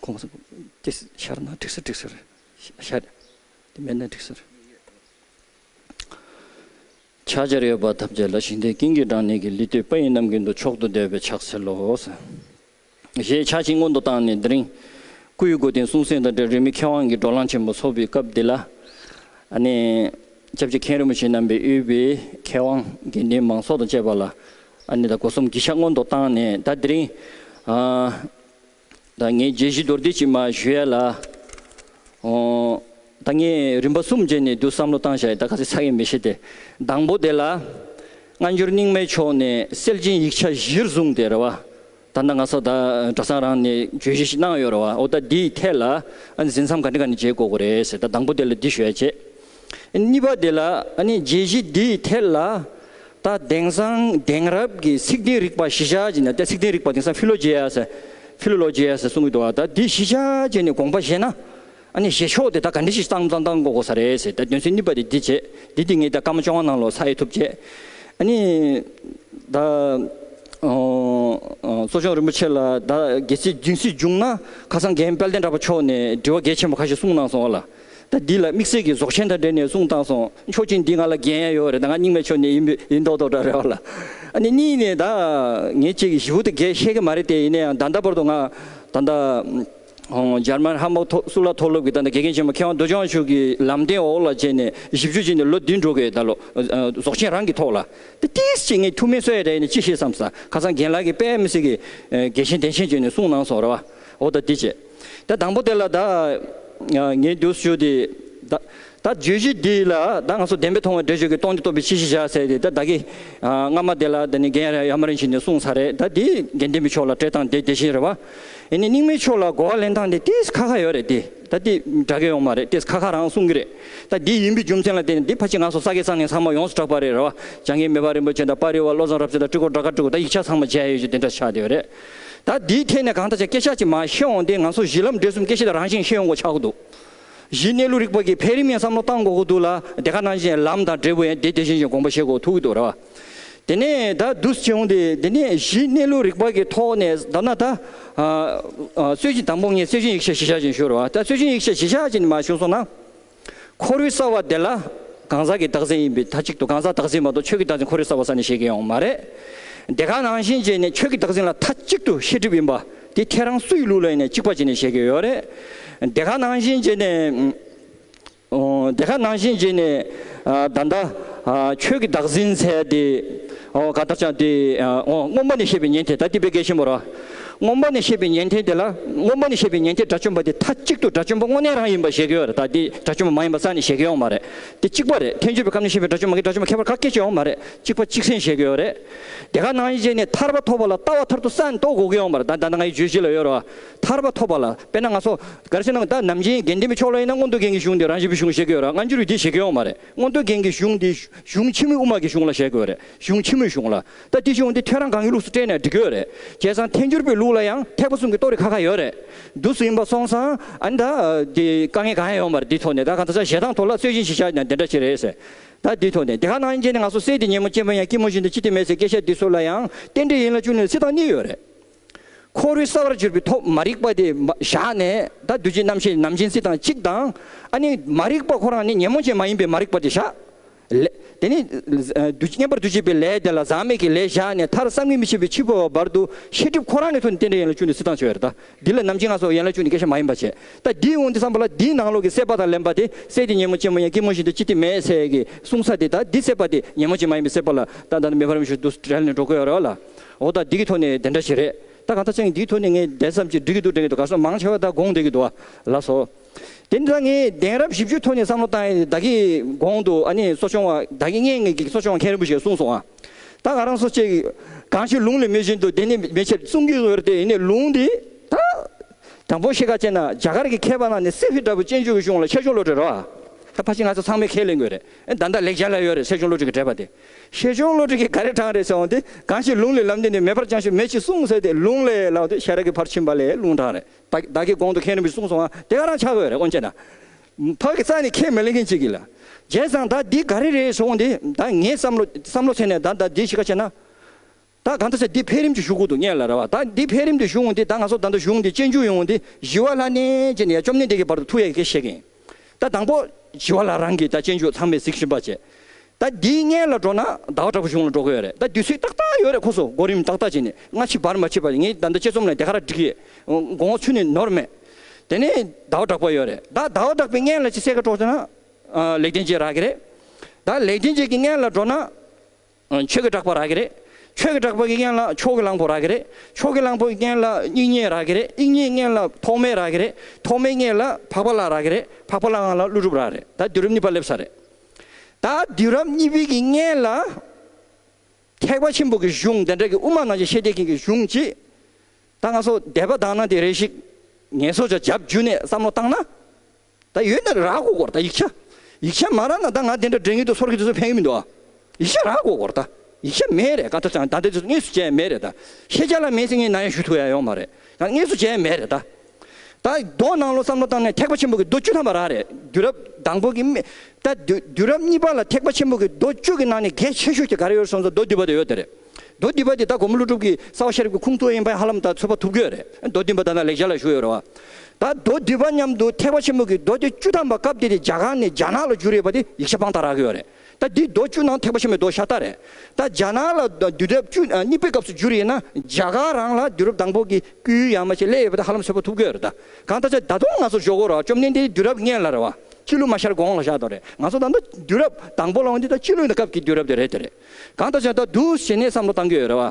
ཁོང་གསུངས། དེ་ཤར་ན་དྲེགས་སེར་དྲེགས་སེར་ཤར། དེ་མེད་ན་དྲེགས་སེར། ཕྱག་རྒྱར་ཡོད་པ་ཐམས་ཅད་ལ་ཞིང་དེའི་ཀིང་ཀི་སྦྲང་ནད་ཀྱི་ལི་སྟོད་པ་ཡིན་རྣམས་ཀྱི་མདུན་ཕྱོགས་དུ་བསྡད་པའི་ཕྱག་འཚལ་ལོ། ཞེས་ཕྱག་བྱིན་སྔོན་དུ་བཏང་ནས་འདི་རིང། སྐུ་ཡི་སྒོ་བསྟེན་གསུང་གསན་དང་འབྲེལ་རིས་མེད་མཁས་དབང་གི་སྒྲོག་ལང་ཆེན་པོ་འཚོགས་པའི་སྐབས་འདི་ལ། སྐྱབས་རྗེ་མཁན་རིན་པོ་ཆེ་རྣམ་པའི་དབུས་པའི་མཁས་དབང་དགེ་འདུན་མང་ཚོགས་དང་བཅས་པ་ལ་ཨ་ནེ་དང་སྒོ་གསུམ་གྱི་ཤ་སྔོན་དུ་བཏང་ནས་ད་དེ་རིང། ད་ངས་རྒྱལ་གཞིས་རྡོར་དྲིལ་གྱིས་མ་བཞུ་ཡ་ལ། ད་ངས་རིམ་པ་གསུམ་རྗེས་ནས་དུ་བསམ་བློ་བཏང་བཞག་ཡ་ད་ག་ཚད་ཚ་ཡས་མི་ཤེས་ཏེ། དང་པོ་དེ་ལ། སྔ་འགྱུར་རྙིང་མའི་ཕྱོགས་ནས་སེལ་ཅིང་ཡིག་ཆ་གཞིར་བཟུང་སྟེ་རེ་བ། ད་ནངས་སོ་ད་གྲྭ་ཚང་རང་ནས་བརྗོད་གཞི་ཞིག་གནང་ཡོད་རེད་བ་འོ་ད་འདིའི་ཐད་ལ་ཨ་ནི་ཟིན་མཚམས་ག་འདྲི་ག་འདྲི་བྱེད་དགོས་གོ་རེད་ཟེར་ད་དང་པོ་དེ་ལ་འདི་ཞུ་ཡ་བྱེད། གཉིས་པ་དེ་ལ་ཨ་ནི་བརྗེད་གཞི་འདིའི་ཐད་ལ་ད་དེང་སང་དེང་རབས་ཀྱི་ཚིག་དེང་རིག་པ་གཞི་ཆགས་ཅན་ད་ཚིག་དེང་རིག་པ་དེང་སང Philogeas Philologias གསུང་གི་འདུག་བ་ད་འདི་གཞི་ཆགས་ཅན་ནས་དགོངས་པ་བཞེས་ན། ཨ་ནི་ཞེས་ཕྱོགས་དེ་ད་ག་འདྲི་ཞིག་སྟངས་སྟངས་སྟངས་གོ་གོ་ས་རེད་ཟེར་ད་དོན་ཚུལ་ནུས་པ་དེ་འདི་བྱེད་འདི་འདི་ངས་ད་སྐར་མ་བཅོ་ལྔ་ནང་ལོགས་ས་ཨེ་ཐུབ་བྱས་ཨ་ནི། ད། གཙོ་སྐྱོང་རིན་པོ་ཆེ་ལ་ད་གལ་སྲིད་སྦྱིན་སྲིད་བྱུང་ན་ཁ་སང་རྒན་དཔལ་ལྡན་གྲྭ་པ་མཆོག་ནས་དྲི་བ་གལ་ཆེན་པོ་ཁ་ཤས་གསུངས་གནང་སོང་བ་ལ་ད་འདི་ལ་དམིགས་བསལ་གྱི་ཟོག་ཆེན་དང་འབྲེལ་ནས་གསུངས་གཏང་སོང་མཆོག་གཅིག་འདི་ང་ལ་འགན་ཡང་ཡོད་རེད་ད་ང་རྙིང་མའི་ཕྱོགས་ནས་ཡིན་པས་ཡིན་མདོག་མདོག་འདྲ་རེད་བ་ལ་ཨ་ནི་གཉིས་ནས་ད་ངས་ཁྱེད་ཀྱི་ཞི་བོ་དེ་འགས་ཤེས་ཀྱི་མ་རེད་དེ་ཡིན་ན་ཡང་ད་ལྟ་བར་དུ་ང་ད་ད། འཇར་མན་ཧམ་བོག་སུ་ལ་མཐོ་སློབ་ཀྱི་ད་ནི་དགེ་རྒན་ཆེན་མོ་མཁས་དབང་རྡོ་ཅང་ཕྱུག་གི་ལམ་སྟོན་འོག་ལ་བྱས་ནས་བཞི་བཅུ་ཅན་ནས་ལོ་བདུན་འགྲོ་གི་ད་ལོ་རྫོགས་ཆེན་རང་གི་ཐོག་ལ་ཏི་ཏིས་ཅིག་ངས་ཐུགས་མི་གསོ་ཡས་རེད་ནས་ཅི་ཤེས་སམ་ས་ཁ་སང་རྒན་ལགས་ཀྱི་པད་མ་སི་ཀི་དགེ་ཆེན་བདེ་ཆེན་བྱོན་ནས་གསུངས་གནང་སོང་ར་བ་འོ་ད་འདི་བྱས་ད་དང་པོ་དེ་ལ་ད་ངས་འདུག་ཞུ་དེ་ད་ད་བརྗོད་གཞི་འདི་ལ་ད་ང་སོ་བདེན་པས་མཐོང་བའི་འགྲེལ་བརྗོད་ཀྱི་སྟོང་ཆ་རྟོགས་པའི་ཕྱིར་ཤེས་བྱ་ཟེར་ཏེ་ད་བདག་གིས། སྔ་མ་དེ་ལ་ད་ནི་འགན་ཡང་ཡང་མ་རིང་ཞིག་ནས་གསུངས་ས་རེད་ད་འདིས་འགན་བདེན་པའི་ཕྱོགས་ལ་བྲེལ་སྟངས་དེ་དེ་བཞིན་རེད་བ། ཡིན་ནའི་རྙིང་མའི་ཕྱོགས་ལ་གོ་བ་ལེན་སྟངས་དེ་དེས་ཁ་ཁ་ཡོད་རེད་དེ་ད་དེ་འདྲ་གི་ཡོང་མ་རེད་དེས་ཁ་ཁ་རང་གསུངས་གི་རེད་ད་འདི་ཡིན་པའི་རྒྱུ་མཚན་ལ་བལྟས་ནས་འདི་ཕ་ཆེ་ང་སོ་ས་གས་ས་ནས་ཚང་མ་ཡོངས་སུ་གྲགས་པ་རེད་རེད་བ། བྱང་གི་མེ་ཕག་རིན་པོ་ཆེ་དང་དཔའ་རིས་བ་བློ་བཟང་རབ་བྱེད་དང་སྤྲུལ་འཁོར་སྦྲག་དཀར་སྤྲུལ་སྐུ་ད་ཡིག་ཆ་ཚང་མ་མཇལ་ཡོད་ཅེས་འདི་འདྲ་ཆགས་བསྡད་ཡོད་རེད། ད་འདིའི་ཐད་ནས་གང་ལྟར་ཆ་སྐད་ཤ་གཅིག་མ་ཤེས་འོང་སྟེ་ང་སོ་གཞི་ལམ་འབྲས་གསུམ་སྐད་ཤེས་དང་རང་བཞིན་ཤེས་ཡོང་གོ་ཆགས་འདུག། བཞི། གནས་ལུགས་རིག་པ་ཀྱི་འཕེལ་རིམ་ཡང་བསམ་བློ་གཏང་དགོས་ཀྱི་འདུག་ལ་དེ་ག་ནང་བཞིན་ལམ་དང་འབྲས་བུ་ཡང་དེ་དེ་བཞིན་བཞིན་དགོངས་པ་བཞེས་དགོས་ཐུག་གི་འདུག་ར་བ། དེ་ནས་ད་བསྡུས་བྱུང་སྟེ་དེ་ནས་བཞི་གནས་ལུགས་རིག་པ་ཀྱི་ཐོག་ནས་བསྡམས་ན་ད། སྲོལ་རྒྱུན་དང་པོ་ལྔའི་སྲོལ་རྒྱུན་ཡིག་ཆ་བཞི་ཆ་ཅན་བཞུགས་ར་བ། ད་སྲོལ་རྒྱུན་ཡིག་ཆ་བཞི་ཆ་ཅན་དེ་མ་བཞུགས་སོང་ན། ཁོར་ཡུག་གསར་བ་དེ་ལ་གང་ཟག་གི་བདག་འཛིན་ཡིན་པས་ད་གཅིག་ཏུ་གང་ཟག་བདག་འཛིན་མ་གཏོགས་ཆོས་ཀྱི་བདག་འཛིན་ཁོར་ཡུག་གསར་བ་ས་ནས་བཞེས་ཀྱི་ཡོང་མ་རེད། དེ་ག་ནང་བཞིན་བྱས་ནས་ཆོས་ཀྱི་བདག་འཛིན་ལ་ད་གཅིག་ཏུ་ཤེས་སྒྲིབ་ཡིན་པ་དེ་ཁྱེད་རང་སུ་ཡི་ལུགས་ལ་ཡིན་ནས་གཅིག་པ་བྱས་ནས་བཤད་ཀྱི་ཡོད་རེད། དེ་ག་ནང་བཞིན་བྱས་ནས། དེ་ག་ནང་བཞིན་བྱས་ནས། ད་ལྟ། ཁྱོད་ཀྱི་བདག་འཛིན་ཚད་དེ། ག་ལྟར་ཆགས་དེ། སྔོན་པ་ནས་བཤད་པའི་ཉན་ཐོས་ད་ལྟའི་དཔེ་རྒན་ཆེན་པོ་ར། སྔོན་པ་ནས་བཤད་པའི་ཉན་ཐོས་དེ་ལ་སྔོན་པ་ནས་བཤད་པའི་ཉན་ཐོས་དགྲ་བཅོམ་པ་དེ་མཐའ་གཅིག་ཏུ་དགྲ་བཅོམ་པ་དངོས་གནས་རང་ཡིན་པར་བཞེད་ཀྱི་ཡོད་རེད་ད་དེ་དགྲ་བཅོམ་པ་མ་ཡིན་པ་རྩ་ནས་བཞེད་ཀྱི་ཡོང་མ་རེད་དེ་གཅིག་པ་རེད་ཐེག་མཆོད་པའི་སྐབས་ནས་བཤད་པའི་དགྲ་བཅོམ་མ་གི་དགྲ་བཅོམ་པ་ཁྱད་པར་ག་སྐད་ཅིག་ཡོང་མ་རེད་གཅིག་པ་གཅིག་ཚན་བཞེད་ཀྱི་ཡོད་རེད། དེ་ག་ནང་ཡི་རྗེས་ནས་ཐར་པ་ཐོབ་པ་ལ་ལྟ་བ་ཐར་དུ་ས་མདོ་གོ་གི་ཡོང་པར་ད་ད་ནང་ཡི་རྗོད་གཞི་ལ་ཡོད་རོ། ཐར་པ་ཐོབ་པ་ལ་དཔེར་ན་ང་སོ་གར་སེ་ནང་ད་ནམ་རྗེའི་དགེ་འདི་མི་ཆོག་ལ་ཡིན་ན་མངོན་རྟོགས་རྒྱན་གྱི་གཞུང་འདི་རང་བཞིན་པའི་གཞུང་བཞེད་ཀྱི་ཡོད་ར་སྔ་འགྱུར་ཡི་དེ་བཞེད་ཀྱི་ཡོང་མ་རེད་མངོན་རྟོགས་རྒྱན་གྱི་གཞུང་འདི་གཞུང་ཕྱི་མོའི་དབུ་མ་གི་གཞུང་ལ་བཞེད་ཀྱི་ཡོད་རེད་གཞུང་ཕྱི་མོའི་གཞུང་ལ་ད་དེ་གཞུང་འདི་ཐོས་རང་གང་གི་ལུགས་སུ་བཀྲལ་ནས་འབྲི་གི་ཡོད་རེད་བྱས་ཙང་ཐལ་འགྱུར་པའི་ལུགས་ལ་ཡང་ཐེག་པ་གསུམ་གྱི་རྟོགས་རིགས་ཁ་ཁ་ཡོད་རེད་འདུག་སུ་ཡིན་པ་སོང་ཙང་ཨ་ནི་ད་དེ་དཀའ་ངལ་གང་ཡང་ཡོང་མ་རེད་དེའི་ཐོག་ནས་ད་གང་ལྟར་བྱས་ཙང་ཐོག་ལ་རྩོད་གཞི་ཞིག་བཞག་ན་དེ་འདྲ་ཅི་རེད་ཟེར། ད་འདི་ཐོག་ནས་དེ་ག་ནང་ཡིན་རྗེས་ནས་ང་ཚོ་སེ་འདི་ཉིན་མོ་སྐྱེས་ཕོ་ཡང་སྐྱིད་མོ་བཞིན་དུ་ཅི་སྟེ་མེད་ཟེར་སྐད་ཆ་འདི་ཚོ་ལ་ཡང་ཏན་ཏིག་ཡིན་ལ་ཅུང་ནས་ཚིག་དང་གཉིས་ཡོད་རེད། ཁོ་རུས་གསར་བར་གྱུར་པའི་ཐོག་མ་རིག་པ་དེ་བཞག་ནས་ད་བདུད་རྗེ་རྣམ་བཤད་ནམ་ཅན་ཚིག་དང་གཅིག་དང་ཨ་ནི་མ་རིག་པ་ཁོ་རང་ནི་ཉིན་མོ་ཅན་མ་ཡིན་པའི་མ་རིག་པ་དེ་བཞག་ལས་དེ་ནི་བསྙེན་པར་བདུད་བྱེད་པའི་ལས་དེ་ལ་ཟག་མེད་ཀྱི་ལས་བཞག་ནས་མཐར་བསམ་གྱིས་མི་ཁྱབ་པའི་འཆི་འཕོ་བ་བར་དུ་ཤེས་སྒྲིབ་ཁོ་རང་ནི་ཐུག་ནས་ཏན་ཏིག་ཡིན་ལ་ཅུང་ནས་ཚིག་དང་ཆོད་རེད་ད། འདི་ལ་ནམ་བྱིང་ལ་སོགས་ཡན་ལག་བཅུ་ནི་སྐད་ཆ་མ་ཡིན་པར་བྱས། ལྟ་འདིའི་དབང་དུ་བསམས་པ་ལ་འདིའི་ནང་ལོགས་ཀྱི་སྲེད་པ་དང་ལེན་པ་དེ་སྲེད་ཀྱི་ཉིན་མོ་ཅན་མོ་ཡང་སྐྱིལ་མོ་ཞིག་ཏུ་ཅི་སྟེ་མེའི་ཚལ་གྱི་སྲུང་ས་དེ་ལྟར་འདི་སྲེད་པ་དེ་ཉིན་མོ་ཅན་མ་ཡིན་པའི་སྲེད་པ་ལ་ལྟ་ད་ནི་མེ་ཕ་རོལ་མི་ཞིག་ཏུ་བྲལ་ནས་འགྲོ་དགོས་ཡོད་རེ་བ་ལ། འོ་ད་འདི་གི་ཐོག་ནས་དེ་འདྲ་ཞིག་རེད་ད་གང་ལྟར་ཅང་ངས་འདིའི་ཐོག་ནས་ངའི་གདན་བསམ་གྱིས་འགྲིག་གི་འདུག་དྲན་གི་འདུག་ག་སོགས་མང་ཆེ་བ་ད་དགོངས་བསྡད་ཀྱི་འདུག་བ་ལགས་སོ། དེ་འདྲ་ངས་གདན་རབས་བཞི་བཅུའི་ཐོག་ནས་བསམ་བློ་བཏང་ཡས་བདག་གིས་དགོངས་འདུག་ཨ་ནི་གསོ་སྦྱོང་བ་བདག་གི་གཉེན་ངེས་ཀྱི་གསོ་སྦྱོང་མཁན་རིན་པོ་ཆེ་གསུངས་སོང་ཨ། ད་ང་རང་སོ་སྐྱེ། གང་ཞིག་ལུང་ལས་མེད་བཞིན་དུ་དེ་ནི་མེད་ཕྱིར་གསུང་གིས་བར་ཏེ་ཡེ་ནས་ལུང་འདི་དང། དང་པོ་ཤེས་ཁ་ཅན་ན་རྒྱ་གར་གྱི་མཁས་པ་རྣམས་ནི་སེ་བྷི་འདྲ་བུ་ཅན་ཆོས་ཀྱི་གཞུང་ལ་ཆེ་ཆུང་བློ་གྲོས་རོ། ད་ཕ་ཆེ་ང་ཚོ་ཚང་མས་ཁས་ལེན་དགོས་རེད་ཨེ་ད་ད་ལེགས་སྦྱར་ལ་ཡོད་རེད་སེ་ཆུང་བློ་གྲོས་ཀྱི་འགྲེལ་པ་དེ། ཤེ་ཆུང་བློ་གྲོས་ཀྱི་ག་རེ་དྲངས་རེད་ཟེར་འོང་སྟེ་གང་ཞིག་ལུང་ལས་ལམ་འདི་ནི་མེད་པར་ཅང་ཞིག་མེད་ཅེས་གསུངས་ཟེར་ཏེ་ལུང་ལས་ལགས་ཏེ་ཤེས་རབ་ཀྱི་ཕར་ཕྱིན་པ་ལས་ལུང་དྲངས་རེད་བདག་གིས་གོང་དུ་མཁན་རིན་པོ་ཆེ་གསུངས་སོང་བ་དེ་ག་རང་ཆགས་དགོས་རེད་དབོན་ཅེ་ན། ཕག་གི་རྩ་ནི་ཁས་མི་ལེན་མཁན་གཅིག་གིས་ལ། རྒྱལ་བཟང་ད་འདི་ག་རེ་རེད་ཞོག་འོང་འདི་ད་ངས་བསམ་བློ་བསམ་བློ་བྱས་ནས་ད་ད་འདི་ཞིག་ཁ་བྱས་ན། ད་གང་འདྲ་བྱས་འདི་འཕེལ་རིམ་གྱི་བཞུགས་སྒོ་དུ་གཉེར་ལ་ར་བ་ད་འདི་འཕེལ་རིམ་དུ་བཞུགས་འོང་འདི་ད་ང་ཚོ་ད་འདི་བཞུགས་འདི་གཅེན་གཅུང་ཡོང་འོང་འདི་བཞི་བ་ལྷ་གནས་ཅེས་འདི་ཡ་བཅོམ་ལྡན་འདས་ཀྱི་བར་དུ་ཐུགས་ཡ་གི་སྐད་བཤད་གིན། ད་དང་པོ་བཞི་བ་ལ་རང་གིས་ད་གཅེན་གཅུང་ཚང་མས་གཟིགས་ཞིབ་པ་བྱས། ད་འདིའི་མངལ་ལ་འགྲོ་ན་ཟླ་བ་དྲག་པོ་གཞུང་ལ་འགྲོ་གི་ཡོད་རེད་ད་དུས་ཚོད་ཏག་ཏག་ཡོད་རེད་ཁོ་ཚོ་གོ་རིམ་ཏག་ཏག་བྱས་ནས་སྔ་ཕྱི་བར་མ་ཆད་པར་ངས་ད་ལྟ་དཔྱད་རྩོམ་ལ་དེ་ག་ར་འགྲིག་ཡོད་མགོ་ངོ་ཆུ་ནས་ནོར་མེད་དེ་ནས་ཟླ་བ་དྲག་པོ་ཡོད་རེད་ད་ཟླ་བ་དྲག་པོའི་མངལ་ལ་ཅི་གསལ་ཁ་དཀྲོག་བྱས་ན་ལེགས་ལྡན་འབྱེད་རག་གི་རེད་ད་ལེགས་ལྡན་འབྱེད་ཀྱི་མངལ་ལ་འགྲོ་ན་ཆོས་ཀྱི་གྲགས་པ་རག་གི་རེད་ཆོས་ཀྱི་གྲགས་པ་གི་མངལ་ལ་ཕྱོགས་ཀྱི་གླང་པོ་རག་གི་རེད་ཕྱོགས་ཀྱི་གླང་པོ་གི་མངལ་ལ་དབྱིག་གཉེན་རག་གི་རེད་དབྱིག་གཉེན་མངལ་ལ་ཐོགས་མེད་རག་གི་རེད་ཐོགས་མེད་མངལ་ལ་འཕགས་པ་ལགས་རག་གི་རེད་འཕགས་པ་ལགས་ལ་ཀླུ་སྒྲུབ་རག་གི་རེད་ད་དུས་རབས་གཉིས་པ་སླེབས་ས་རེད། ད་དུས་རབས་གཉིས་པའི་གི་སྔས་ལ། ཐེག་པ་ཆེན་པོ་གི་གཞུང་དེ་འདྲ་གི་དབུ་མ་ནང་བཞིན་བཤད་བསྡད་མཁན་གི་གཞུང་གཅིག། ད་ང་ཚོ་དད་པ་དང་ན་དེ་རེ་ཞིག་ངལ་གསོ་བྱ་བྱབ་རྒྱུ་ནས་བསམ་བློ་བཏང་ན། ད་ཡོད་ན་རག་གོ་གོ་ར་ད་ཡིག་ཆ། ཡིག་ཆ་མ་རག་ན་ད་ང་དེ་འདྲ་འདྲེ་ངན་དུ་སོར་གི་དེ་ཚོ་ཕན་གི་མི་འདུག་ཨ། ཡིག་ཆ་རག་གོ་གོ་ར་ད། ཡིག་ཆ་མེད་རེད་ག་ད་ད་དེ་ཚོ་དངོས་སུ་བྱས་ཡ་མེད་རེད་ད། ཤེས་བྱ་ལ་མེད་ཚེ་ངས་ན་ཡ་ཞུ་ཐུབ་ཡ་ཡོང་མ་རེད། ད་དངོས་སུ་བྱས་ཡ་མེད་རེད་ད། ད་གདོང་ནང་བློ་བསམ་བློ་བཏང་ནས་ཐེག་པ་ཆེན་པོ་གི་མདོ་བཅུ་ཐམས་པ་རག་རེད་དུས་རབས་དང་པོ་གི་སྨད་ད་དུས་རབས་གཉིས་པ་ལ་ཐེག་པ་ཆེན་པོ་གི་མདོ་བཅུ་གི་ནང་ནས་གལ་ཆེ་ཤོས་ཀྱི་ག་རེ་ཡོད་སོང་ཚོ་མདོ་བསྡུས་པ་དེ་ཡོད་དེ་རེད་མདོ་བསྡུས་པ་དེ་ད་གོང་མོ་ཀླུ་སྒྲུབ་ཀྱི་ས་བ་ཤེས་རབ་ཀྱི་ཁུངས་གཙོ་ཡིན་པས་ཧ་ལམ་ད་ཚོད་པ་ཐུབ་ཀྱི་ཡོད་རེད་མདོ་བསྡུས་པ་ད་ནང་ལེགས་ཆ་ལ་བཞུགས་ཡོད་རེད་བ་ད་མདོ་བསྡུས་པ་མཉམ་དུ་ཐེག་པ་ཆེན་པོ་གི་མདོ་དེ་བཅུ་ཐམས་པ་སྐབས་དེ་དེ་རྒྱ་གང་ནས་རྒྱ་ནག་ལ་བཞུགས་རེད་བ་དེ་ཡིག་ཆ་དཔང་རྟགས་རག་གི་ཡོད་རེད། ད་འདི་རྡོ་བཅུ་ནང་ཐེག་པ་ཆེན་པོའི་རྡོ་ཤ་སྟག་རེད། ད་རྒྱ་ནག་ལ་དུས་རབས་བཅུ་གཉིས་པའི་སྐབས་སུ་བསྒྱུར་ཡིན་ན་རྒྱ་གར་རང་ལ་དུས་རབས་དང་པོ་གི་སྐུའི་ཡང་མ་ཆད་ལས་ཡོད་པ་དེ་ཧ་ལམ་སོས་པོ་ཐུབ་གི་ཡོད་རེད་ད། གང་ལྟར་ཆ་ད་དུང་ང་ཚོ་ཞོག་གོ་རོགས་བཅོམ་ལྡན་འདས་དུས་རབས་ལྔའི་ལར་བ་སྤྱི་ལོ་མ་ཤར་གོང་ལ་བཞག་དོ་རེད་ང་ཚོ་ད་ལྟ་དུས་རབས་དང་པོ་ལ་འོང་དུས་ད་སྤྱི་ལོའི་སྐབས་ཀྱི་དུས་རབས་དེ་རེད་དེ་རེད། གང་ལྟར་ཆ་ད་དུང་ཞེ་ནས་བསམ་བློ་གཏང་གི་ཡོད་རེད་བ།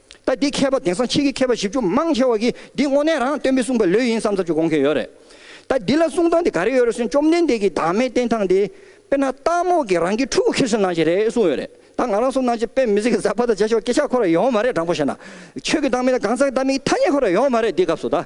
ད་འདི་མཁས་པ་དེང་སང་ཁྱེད་ཀྱི་མཁས་པ་བཞི་བཅུ་མང་ཆེ་བ་གིས་འདི་དངོས་གནས་རང་སྟོན་པའི་གསུངས་པའི་ལོས་ཡིན་བསམ་ཚར་གྱི་དགོངས་ཁེ་ཡོད་རེད། ད་འདི་ལ་གསུངས་སྟངས་དེ་ག་རེ་ཡོད་རེད་གསུངས་བཅོམ་ལྡན་འདས་ཀྱིས་བདག་མེད་བསྟན་སྟངས་དེ། དཔེར་ན་སྟག་མོ་གིས་རང་གི་ཕྲུ་གུ་ཁྱེར་སོན་ནང་བཞིན་རེད་གསུངས་ཡོད་རེད་ད་ང་རང་སོན་ནང་བཞིན་དཔེ་མི་ཟིག་གིས་ཟ་བ་དང་བྱེད་ཆོག་སྐད་ཆ་ཁོ་ར་ཡོང་བ་མ་རེད་དྲང་པོ་བཤད་ན། ཁྱོད་ཀྱི་བདག་མེད་དང་གང་ཟག་བདག་མེད་ཀྱི་ཐ་སྙད་ཁོ་ར་ཡོང་བ་མ་རེད་འདི་སྐབས་སུ་ད།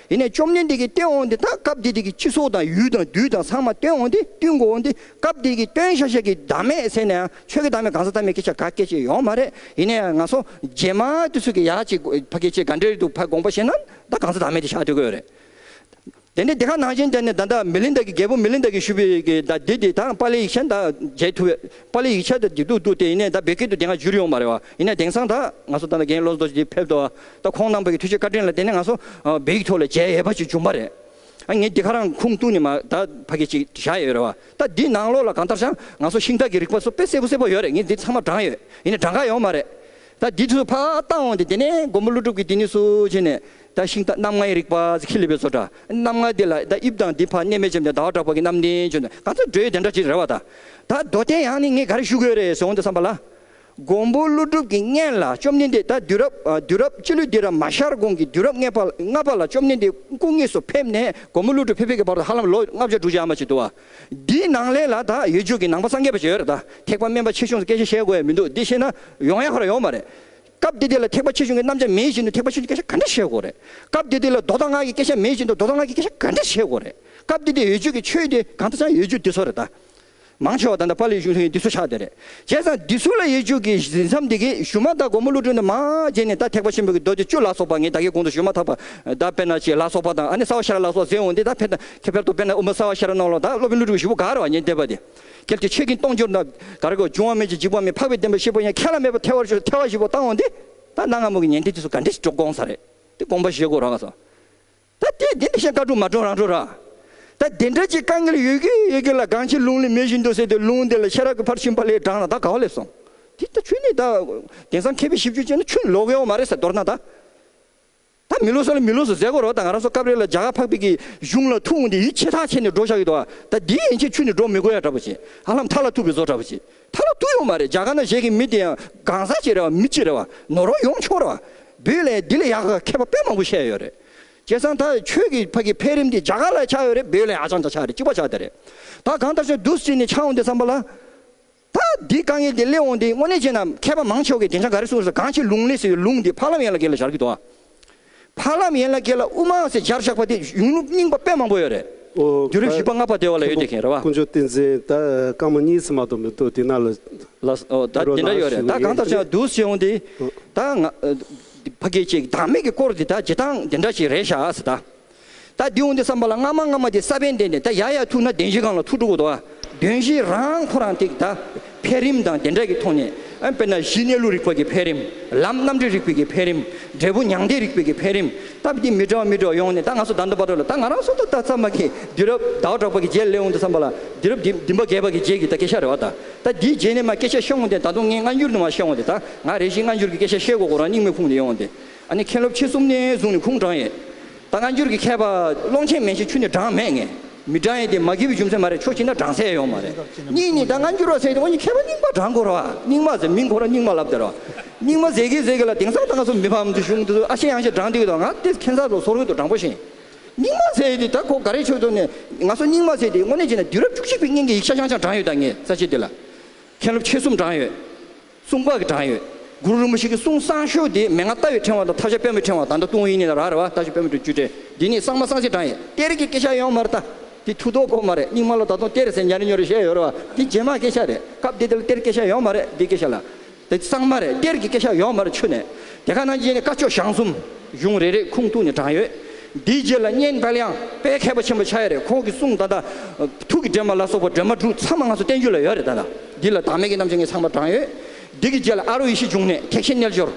དེ་ནས་བཅོམ་ལྡན་འདས་ཀྱིས་སྟོན་འོངས་ཏེ་ད་སྐབས་དེ་དུས་ཀྱི་ཁྱི་སོགས་དང་ཡུལ་དང་རྡུལ་དང་ཚང་མ་སྟོན་འོངས་ཏེ་བཏུལ་འགོ་འོངས་ཏེ་སྐབས་དེ་དུས་ཀྱི་སྟོན་ཤ་ཤ་གི་བདག་མེད་ཟེར་ནའང་ཆོས་ཀྱི་བདག་མེད་གང་ཟག་ཐ་མའི་སྐད་ཆ་ག་སྐད་ཅིག་ཡོང་མ་རེད་ཡིན་ན་ཡང་ང་སོ་རྗེས་མ་དུས་སུ་གི་ཡག་ཅིག་ཕ་སྐད་ཆའི་ག་འདྲའི་རིགས་འདུག་ཕ་དགོངས་པ་བཞིན་ན་ད་གང་ཟག་བདག་མེད་དེ་ཞག་དུས་གོས་རེད། དེ་ནས་དེ་ག་ནང་བཞིན་དེ་ནས་ད་ད་མི་ལིན་དག་གི་རྒྱལ་པོ་མི་ལིན་དག་གི་ཞུས་པའི་གི་ད་དེ་དུས་ད་པཱ་ལིའི་ཡིག་ཆ་ད་མཇལ་ཐུབ་བས་པཱ་ལིའི་ཡིག་ཆ་ད་འདི་འདུག་འདུག་དེ་ཡིན་ན་ད་བོད་སྐད་དུ་དེ་ག་བསྒྱུར་ཡོང་མ་རེད་བ་ཡིན་ན་དེང་སང་ད་ང་སོ་ད་ད་གན་བློ་བཟོ་ཅིག་ཕེབས་ཏོ། ད་ཁོང་རྣམ་པ་ཀྱི་ཐུགས་རྗེ་བཀའ་དྲིན་ལ་བརྟེན་ནས་ང་ཚོ་བོད་ཡིག་ཐོག་ལ་མཇལ་ཡས་པ་ཅིག་བྱུང་པ་རེད། ཨ་ངས་འདི་ག་རང་ཁུངས་གཏུགས་ནས་མ་ད་ཕ་སྐད་ཅིག་བཞག་ཡོད་རེད་བ། ད་འདི་ནང་ལོགས་ལ་གང་ལྟར་བྱང་ང་ཚོ་ཤིང་རྟ་གི་རིག་པ་ཚོ་དཔེ་གསལ་པོ་གསལ་པོ་ཡོད་རེད་ངས་འདི་ཚང་མ་བགྲང་ཡོད་ཡིན་ནས་བགྲང་ག་ཡོང་མ་རེད། ད་འདི་ཚོ་ཕ་བཏང་འོང་སྟེ་དེ་ནས་མགོན་པོ་ཀླུ་སྒྲུབ་ཀྱིས་འདི་ནས་སུ་བྱས་ནས་ད་ཤིང་རྟ་རྣམ་ལྔའི་རིག་པ་ཚེ་ཁྱི་ལི་པའི་ཚོ་འདྲ་རྣམ་ལྔ་འདི་ལ་ད་དབྱིབས་དང་འདི་ཕ་གནས་མལ་ཆེམས་དང་ཟླ་བ་གྲགས་པ་ཀྱི་རྣམ་བདེན་བྱོན་དང་གང་ཚོད་འགྲོས་དེ་འདྲ་ཅིག་རེད་བ། ད་རྡོ་སྟེ་ཡང་ནི་ངས་ག་རེ་ཞུ་དགོས་རེད་ཟེར་འོང་སྟེ་བསམ་པ་ལ། མགོན་པོ་ཀླུ་སྒྲུབ་ཀྱི་བརྔན་ལ་བཅོམ་ལྡན་འདས་ད་དུས་རབས་སྤྱི་ལོའི་སྡེ་ར་མ་ཤར་གོང་གི་དུས་རབས་ལྔ་པ་ལ་བཅོམ་ལྡན་འདས་སྐུ་དངོས་སུ་ཕེབས་ནས་མགོན་པོ་ཀླུ་སྒྲུབ་ཕེབས་ཕེབས་ཀྱི་བར་དུ་ཧ་ལམ་ལོ་ལྔ་བརྒྱ་དྲུག་བརྒྱ་ཨ་མ་ཅིག་འདུག་བ། འདིའི་ནང་ལེ་ལ་ད་ཡོད་རྒྱུད་ཀྱི་ནང་པ་སངས་རྒྱས་པ་ཞིག་ཡོད་རེད་ད་ཐེག་པ་དམན་པ་ཆེ་ཆུང་སྐད་ཆ་བཤད་དགོས་ཡ་མི་འདུག་འདི་བཤད་ན་ཡོང་ཡ་ཁོ་ར་ཡོང་བ་རེད། སྐབས་དེ་དུས་ལ་ཐེག་པ་ཆེ་ཆུང་གི་རྣམ་གཞག་མེད་བཞིན་དུ་ཐེག་པ་ཆེ་ཆུང་གི་སྐད་ཆ་ག་འདྲ་བཤད་དགོས་རེད། སྐབས་དེ་དུས་ལ་མདོ་དང་སྔགས་ཀྱི་སྐད་ཆ་མེད་བཞིན་དུ་མདོ་དང་སྔགས་ཀྱི་སྐད་ཆ་ག་འདྲ་བཤད་དགོས་རེད། སྐབས་དེ་དུས་ཡོད་རྒྱུད་ཀྱི་ཆོས་དེ་གང་དུ་ཆགས་ཡོད་རྒྱུད་དེ་ཚོ་རེད་ད། མང་ཆེ་བ་ད་ལྟ་པཱ་ལིའི་གཞུང་ལྷུན་གྱིས་འདི་ཚོ་ཆགས་བསྡད་རེད། བྱས་ཙང་འདི་ཚོ་ལ་ཡིག་རྒྱུགས་ཀྱི་གཟི་མཚམས་འདི་གི་གཞུ་མ་ད་སྒོར་མོ་བླུ་བྲུན་དུ་མ་བརྗེས་ནས་ད་ཐེག་པ་ཆེན་པོ་གི་རྡོ་རྗེ་བཅུ་ལ་སོགས་པ་ངས་ད་གི་གོང་དུ་བཞུ་མ་ཐག་པ་ད་དཔེར་ན་ཅིག་ལ་སོགས་པ་དང་ཨ་ནི་སྭ་བ་ཤ་ར་ལ་སོགས་ཟེར་འོང་དེ་ད་ཕེར་ཐ་ཕེར་ཐོག་དཔེར་ན་ཨུ་མ་སྭ་བ་ཤ་ར་ནང་ལོགས་ད་སློབ་དཔོན་བླུ་བྲུན་གྱི་བཞུ་བོ་ག་ར་བ་ཉེན་བརྡེག་པ་དེ། གལ་ཏེ་ཆོས་ཀྱི་སྟོང་འབྱོར་ན་ག་ར་གོ་འབྱུང་བ་མེད་ཅིང་འཇིག་པ་མེད་འཕགས་པའི་བདེན་པ་ཤེས་པ་ཡང་ཁྱེད་ལ་མེད་པ་ཐལ་བར་ཆོས་ཐལ་བ་བཞི་བོ་བཏང་འོང་དེ། ད་གནའ་སྔ་མོ་གི་ཉན་བརྡེག་འདི་ཚོ་ག་འདྲས་ཤིག་འགྲོ་དགོངས་ས་རེད་དེ་དགོངས་པ་བཞེས་དགོས་རོགས་ག་སོང། ད་ལྟའི་འདི་འདི་བཞིན་བཀའ་དྲུག་མ་དྲུག་རང་འགྲོ་ར། ད་འདི་འདྲ་ཅིག་དཀའ་ངལ་ཡོད་གི་ཡོད་གི་ལ་སྒང་ཕྱི་ལུང་ལི་མེ་བཞིན་དུ་ཟེར་དུས་ལུང་འདི་ལ་ཤེས་རབ་ཀྱི་ཕར་ཕྱིན་པ་ལས་བགྲང་ན་ད་ག་བ་ལས་སོང། འདི་ད་ཆོས་ནི་ད། དེང་སང་མཁས་པའི་ཞིབ་འཇུག་ཅན་ནི་ཆོས་ལོག་ཡོད་མ་རེད་ཟེར་མདོར་ན་ད། ད་མི་ལོག་ས་ལ་མི་ལོག་སུ་ཟེར་གོ་རོགས་ད་ང་རང་སོ་སྐབས་རེ་ལ་རྒྱ་གར་འཕགས་པའི་གི་གཞུང་ལ་ཐུག་འོང་དེ་ཡིད་ཆེས་ཐག་ཆད་ནས་འགྲོ་བཞག་ཡོད་དོ། ད་འདི་ཡིན་ཕྱིན་ཆོས་ནི་འགྲོ་མི་དགོས་ཡ་འདྲ་པོ་བྱེད། ཧ་ལམ་མཐའ་ལ་ཐུག་པའི་བཟོ་འདྲ་པོ་བྱེད། ཐ་ན་དུ་ཡོང་མ་རེད་རྒྱ་གར་ན་བཞེས་ཀྱི་མི་དེ་ཡང་གང་ཟག་ཅིག་རེད་བ་མི་གཅིག་རེད་བ་ནོར་བ་ཡོང་ཆོག་རེད་བ་བུ་ལས་འདི་ལས་ཡག་ག་མཁས་པ་དཔེ་མང་པོ་བཤད་ཡོད་རེད་བྱས་ཙང་ད་ཁྱོད་ཀྱི་ཕ་གི་འཕེལ་རིམ་དེ་རྒྱ་གར་ལ་ཆགས་ཡོད་རེད་བུ་ལས་ཧ་ཅང་ད་ཆགས་རེད་གཅིག་པ་ཆགས་དེ་རེད་ད་གང་ལྟར་ཆགས་འདུག་སྲིད་ནས་ཆགས་འོང་དེ་བསམ་པ་ལ་ད་འདི་དཀའ་ངལ་དེ་སླེབས་འོང་དེ་དངོས་གནས་བྱས་ན་མཁས་པ་མང་ཆོག་གི་དེ་འཆང་ག་རེ་གསུངས་ཟེར་གང་ཆེ་ལུང་ལས་ཟེར་བའི་ལུང་དེ་ཕ་ལམ་ཡན་ལ་གེ་ལ་སྦྱར་གི་འདུག་བ། འཕགས་ལམ་ཡན་ལག་བརྒྱད་ལ་དབུ་མ་སེར་སྦྱར་བཞག་པ་དེ་ཡུངས་ལུགས་རྙིང་པ་དཔེ་མང་པོ་ཡོད་རེད། རྒྱུད་རིམ་བཞི་པ་ལྔ་པ་སྡེ་བ་ལ་ཡོད་དེ་མཁན་རེད་བ། ཀུན་སྤྱོད་བསྟན་འཛིན་ད་སྐར་མ་གཉིས་ཚེས་མ་གཏོགས་མི་འདུག་དེ་ན་ལ། ལ་སོ། ད་དེ་འདྲ་ཡོད་རེད་ད་གང་ལྟར་བྱས་བསྡུ་བྱས་འོང་དེ། ད་ང། ཕ་སྐད་ཅེས་བདག་མེད་ཀྱི་སྐོར་དེ་ད་བྱེད་སྟངས་དེ་འདྲ་ཞིག་རེད་ཤག་ཨ་སི་ད། ད་བདུན་འོང་དུས་བསམ་པ་ལ་སྔ་མ་སྔ་མ་དེ་ས་བོན་བདེན་ཏེ་ད་ཡར་ཡར་ཐུག་ན་བདེན་བཞི་གང་ལ་ཐུག་དྲུག་གོ་དོ་ཨ། བདུན་བཞི་རང་ཁོ་རང་ཐིག་ད་འཕེལ་རིམ་དང་དེ་འདྲ་གི་ཐོག་ནས་ཨ་དཔེར་ན་གཞི་གནས་ལུགས་རིག་པ་གི་འཕེལ་རིམ་ལམ་རྣམ་འགྲེལ་རིག་པའི་གི་འཕེལ་རིམ་འབྲས་བུ་མྱང་འདས་རིག་པའི་གི་འཕེལ་རིམ་ད་བདེ་མི་འདྲ་བ་མི་འདྲ་བ་ཡོང་ནས་ད་ང་སོ་ད་འདོད་པ་འདོད་ལ་ད་ང་རང་སོ་ད་ད་ཚར་མ་གི་དུས་རབས་ཟླ་བ་གྲགས་པ་གི་རྗེས་སླེ་འོང་དུས་བསམ་པ་ལ་དུས་རབས་འདི་འདི་འབའ་རྒས་པ་གི་རྗེས་གི་ད་སྐད་ཆ་རེ་བ་ད་ད་འདིའི་རྗེས་ནས་མ་སྐད་ཆ་ཤོད་འོང་དེ་ད་དུང་ངས་སྔ་འགྱུར་ནས་མ་ཤོད་འོང་དེ་ད་ང་རེ་ཞིག་སྔ་འགྱུར་གི་སྐད་ཆ་ཤོད་དགོས་གོ་རང་སྙིང་མེ་ཕུང་དུ་ཡོང་འོང་དེ། ཨ་ནི་མཁན་སློབ་ཁྱེད་གསུམ་ནི་བཟུང་ནས་ཁུངས་དྲངས་ཡས། ད་སྔ་འགྱུར་གྱི་མཁས་པ་ཀློང་ཆེན་མན་ཞིག་ཆུ་ནས་དྲངས་མེད་ངས་མི་དྲངས་ཡས་དེ་མ་གི་བའི་རྒྱུ་མཚན་མ་རེད་ཆོག་ཅིག་ན་དྲངས་སའི་ཡོང་མ་རེད་གཉིས་ནི་ད་སྔ་འགྱུར་བ་ཟེར་གི་འོ་ནི་མཁས་པ་རྙིང་པ་དྲངས་དགོས་ར་བ་རྙིང་མ་ཟེར་མིང་གོ་ར་རྙིང་མ་ལབ་དེ་ར་བ་རྙིང་མ་ཟེར་གི་ཟེར་གི་ལ་དེང་སང་ད་སྔ་སུ་མི་ཕམ་དུ་བཞུགས་འདུག་ཨ་ཤེ་ཡང་ཤེ་དྲངས་འདུག་གི་ད་སྔ་དེ་མཁན་ས་ལོ་སོ་རོལ་དུ་དྲངས་པོ་ཞིང། རྙིང་མ་ཟེར་ཡས་དེ་ད་གོ་ག་རེ་ཆོག་ཆོག་ནས་ང་སུ་རྙིང་མ་ཟེར་དེ་དངོས་གནས་བྱས་ན་དུས་རབས་བཅུ་གཅིག་པའི་སྙིང་གི་ཡིག་ཆ་ཤང་ཤང་དྲངས་ཡོད་ད་ངས་ས་ཕྱེ་དེ་ལ་མཁན་སློབ་ཁྱེད་གསུམ་དྲངས་ཡོད། གསུང་དཔག་གི་གྲངས་ཡོད། གུ་རུ་རིན་པོ་ཆེ་གི་གསུང་གསང་ཤོག་འདི་མན་ངག་རྟ་བའི་ཕྲེང་བ་དང་ཐབས་ཤ་དཔོན་པོའི་ཕྲེང་བ་དང་འདྲ་ཏུང་ཡིག་ནི་ལ་ར་རེ་བ་རྟ་ཤ་དཔོན་པོ་དྲུག་བཅུ་སྤྲེལ་འདི་ནི་གསང་མ་གསང་ཆེན་གྲངས་ཡོད། གཏེར་གྱི་སྐད་ཆ་ཡོང་མ་རེད་ད། འདི་མཐུ་སྟོབས་སྐོར་མ་རེད་རྙིང་མ་ལ་ད་དུང་གཏེར་ཟེར་ཉར་ཉོ་རེ་བཤད་ཡོད་རེད་བ། འདི་རྗེས་མ་སྐད་ཆ་རེད་སྐབས་འདི་དེ་ལ་གཏེར་སྐད་ཆ་ཡོང་མ་རེད་འདི་སྐད་ཆ་ལ། འདི་གསང་མ་རེད་གཏེར་གྱི་སྐད་ཆ་ཡོང་མ་རེད་ཆུ་ནས་དེ་ག་ནང་རྗེས་ནས་བཀའ་ཆོས་ཞང་གསུམ། གཞུང་རེ་རེ་ཁུངས་གཏུགས་ནས་གྲངས་ཡོད། འདིའི་རྗེས་ལ་གཉན་དཔལ་དབྱངས་དཔལ་མཁས་པ་ཆེན་པོ་ཆགས་ཡོད་རེད་ཁོང་གི་གསུང་ད་ལྟ། ཐུགས་ཀྱི་སྒྲོན་མ་ལ་སོགས་པ་སྒྲོན་མ་དྲུག་ཚང་མ་ང་ཚོ་བསྟན་རྒྱུ་ལ་ཡོད་རེད་ད། འདི་ལ་བདག་མེད་ཀྱི་རྣམ་བཅད་ངེས་ཚང་བར་བགྲང་ཡོད། བདུད་ཀྱི་རྗེ་ལ་ཨ་རོ་ཡེ་ཤེས་འབྱུང་གནས་ཐེག་ཆེན་རྣལ་འབྱོར།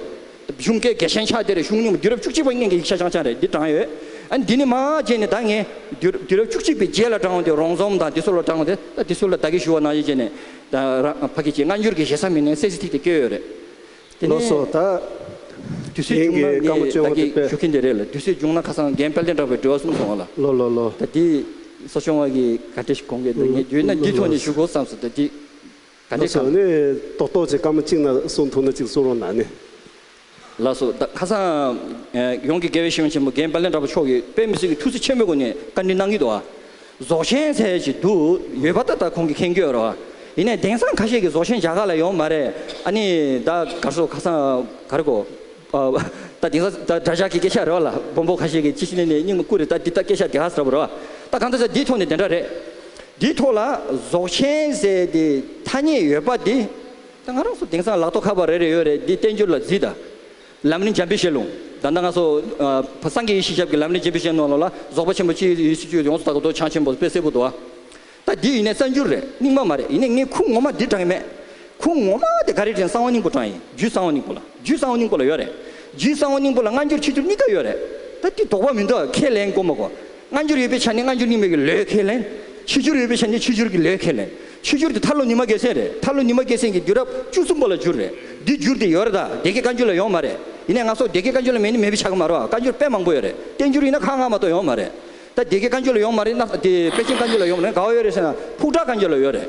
གཞུང་སྐད་དགེ་ཆེན་ཕྱག་དེ་རེ་ཤུགས་སྙིང་པོ་བདུད་རབས་བཅུ་གཅིག་པ་སྙིང་གི་ཡིག་ཆ་ཆང་ཆང་རེ་འདི་བགྲང་ཡོད། འདི་ནི་མ་བརྗེད་ནས་ད་ངས། བདུད་རབས་བཅུ་གཅིག་པའི་རྗེ་ལ་བགྲང་བ་དེ་རོང་ཟོམ་དང་འདི་སོགས་ལ་བགྲང་བ་དེ་ལྟ་འདི་སོགས་ལ་བདག་གིས་ཞུ་བ་ནང་བཞིན་བྱས་ནས། ཕ་གི་རྗེ་སྔ་འགྱུར་གྱི་ཞེ་ས་མི་སྣའི་སྲས་ཚེ་ཐིག་དེ་བསྐྱོད་ཡོད་རེད། དེ་ནས་དུས་ཚོད་བྱུང་ན་ངས་བདག་གིས་ཞུ་མཁན་དེ་རེད་ལ་དུས་ཚོད་བྱུང་ན་ཁ་སང་རྒན་དཔལ་ལྡན་གྲགས་པའི་འགྲེལ་བ་གསུམ་སོང་བ་ལ་ད་འདི་ས་ཆུང་བ་གིས་ག་འདྲེ་ཞིག་གོང་གི་འདུག་ངས་བརྗོད་ན་འདི་ཐོག་ནས་ཞུ་དགོས་བསམས་སོ་ད་འདི་ག་འདྲེ་གང། ཏོག་ཏོག་ཅིག་སྐར་མ་གཅིག་ན་གསུང་ཐུག་ན་གཅིག་གསུང་རོགས་གནང་ནི། ལགས་སོ་ད་ཁ་སང་ཡོངས་ཀྱི་དགེ་བའི་བཤེས་གཉེན་ཆེན་པོ་རྒན་དཔལ་ལྡན་གྲགས་པ་མཆོག་གིས་དཔལ་མི་སྲིད་ཀྱི་ཐུགས་བརྩེ་ཆེན་པོའི་སྒོ་ནས་བཀའ་འདྲི་གནང་གི་འདུག་ཨ། རྫོགས་ཆེན་ཟེར་གྱི་འདུག་ཡོད་པ་ད་ལྟ་ཁོང་གི་ཁེངས་སྐྱོད་རོ། ཡིན་ནས་དེང་སང་ཁ་ཤས་ཀྱི་རྫོགས་ཆེན་རྒྱ་གར་ལ་ཡོང་མ་རེད་ཨ་ནི་ད་གར་སོ་ཁ་སང་གར་གོ། ད་དེང་སང་ད་དགྲ་ཇག་གི་སྐད་ཆ་རེད་བ་ལ་སྦོམ་པོ་ཁ་ཤས་ཀྱི་ཅི་ཞིག་ནས་ནས་སྙིང་མ་བརྐུ་རེད་ད་འདི་ད་སྐད་ཆ་དེ་ག་ཟེར་བ་རེད་བ། ད་གང་ཟེར་ཟེར་འདིའི་ཐོག་ནས་དེ་འདྲ་རེད། འདིའི་ཐོག་ལ་རྫོགས་ཆེན་ཟེར་དེ་ཐ་སྙད་ཡོད་པ་དེ། ད་ང་རང་སུ་དེང་སང་ལག་ཐོག་ཁ་པར་རེ་རེ་ཡོད་རེད་འདི་བསྟན་འགྱུར་ལ་བརྫིས་ད། ལམ་ནི་འཇམ་པའི་ཞལ་ལུང། བདག་མདའ་ལྔ་སོགས། སངས་རྒྱས་ཡེ་ཤེས་ཞབས་ཀྱི་ལམ་ནི་འཇམ་པའི་ཞལ་ནོར་ལོ་ལ། རྫོགས་པ་ཆེན་པོ་ཅིའི་ཡུལ་སྲིད་བཅུའི་ཡོངས་སུ་དག་པ་མདོ་བྱང་ཆེན་པོ་དཔལ་སེར་པོ་དུ་བ། ད་འདི་ཡིན་ནས་གསར་འགྱུར་རེད་རྙིང་མ་མ་རེད་ཡིན་ནས་ངས་ཁུངས་ངོ་མ་འདིར་བགྲང་གི་མེད། ཁུངས་ངོ་མ་དེ་ག་རེ་དྲན་གསང་བ་སྙིང་པོ་བགྲང་ཡིན་རྒྱུད་གསང་བ་སྙིང་པོ་ལ་རྒྱུད་གསང་བ་སྙིང་པོ་ལ་ཡོད་རེད། རྒྱུད་གསང་བ་སྙིང་པོ་ལ་སྔ་འགྱུར་ཕྱི་འགྱུར་གཉིས་ཀ་ཡོད་རེད། ད་འདི་དོགས་པ་མི་འདུག་ཁས་ལེན་མགོ་མ་གོ། སྔ་འགྱུར་ཡོད་པའི་ཆ་ནས་སྔ་འགྱུར་རྙིང་མའི་གི་ལོའི་ཁས་ལེན། ཕྱི་འགྱུར་ཡོད་པའི་ཆ་ནས་ཕྱི་འགྱུར་གི་ལོའི་ཁས་ལེན། ཕྱི་འགྱུར་དེ་ཐར་ལོ་ཉི་མ་བརྒྱད་ཚན་རེད། ཐར་ལོ་ཉི་མ་བརྒྱད་ཚན་གྱི་འགྱུར་རབས་བཅུ་གསུམ་པོ་ལ་འགྱུར་རེད། འདི་འགྱུར་དེ་ཡོད་རེད་ད། སྡེ་དགེ་བཀའ་འགྱུར་ལ་ཡོང་མ་རེད། ཡིན་ནའི་ང་སོགས་སྡེ་དགེ་བཀའ་འགྱུར་ལ་མེད་ནི་མེད་པའི་ཆ་གི་མ་རོ། བཀའ་འགྱུར་དཔེ་མང་པོ་ཡོད་རེད། བསྟན་འགྱུར་ཡིན་ན་ཁག་ལྔ་མ་གཏོགས་ཡོང་མ་རེད། ད་སྡེ་དགེ་བཀའ་འགྱུར་ལ་ཡོང་མ་རེད། དེ་དཔལ་ཆེན་བཀའ་འགྱུར་ལ་ཡོང་མ་རེད། ག་བ་ཡོད་རེད་ཟེར་ན་ཕུགས་དྲག་བཀའ་འགྱུར་ལ་ཡོད་རེད།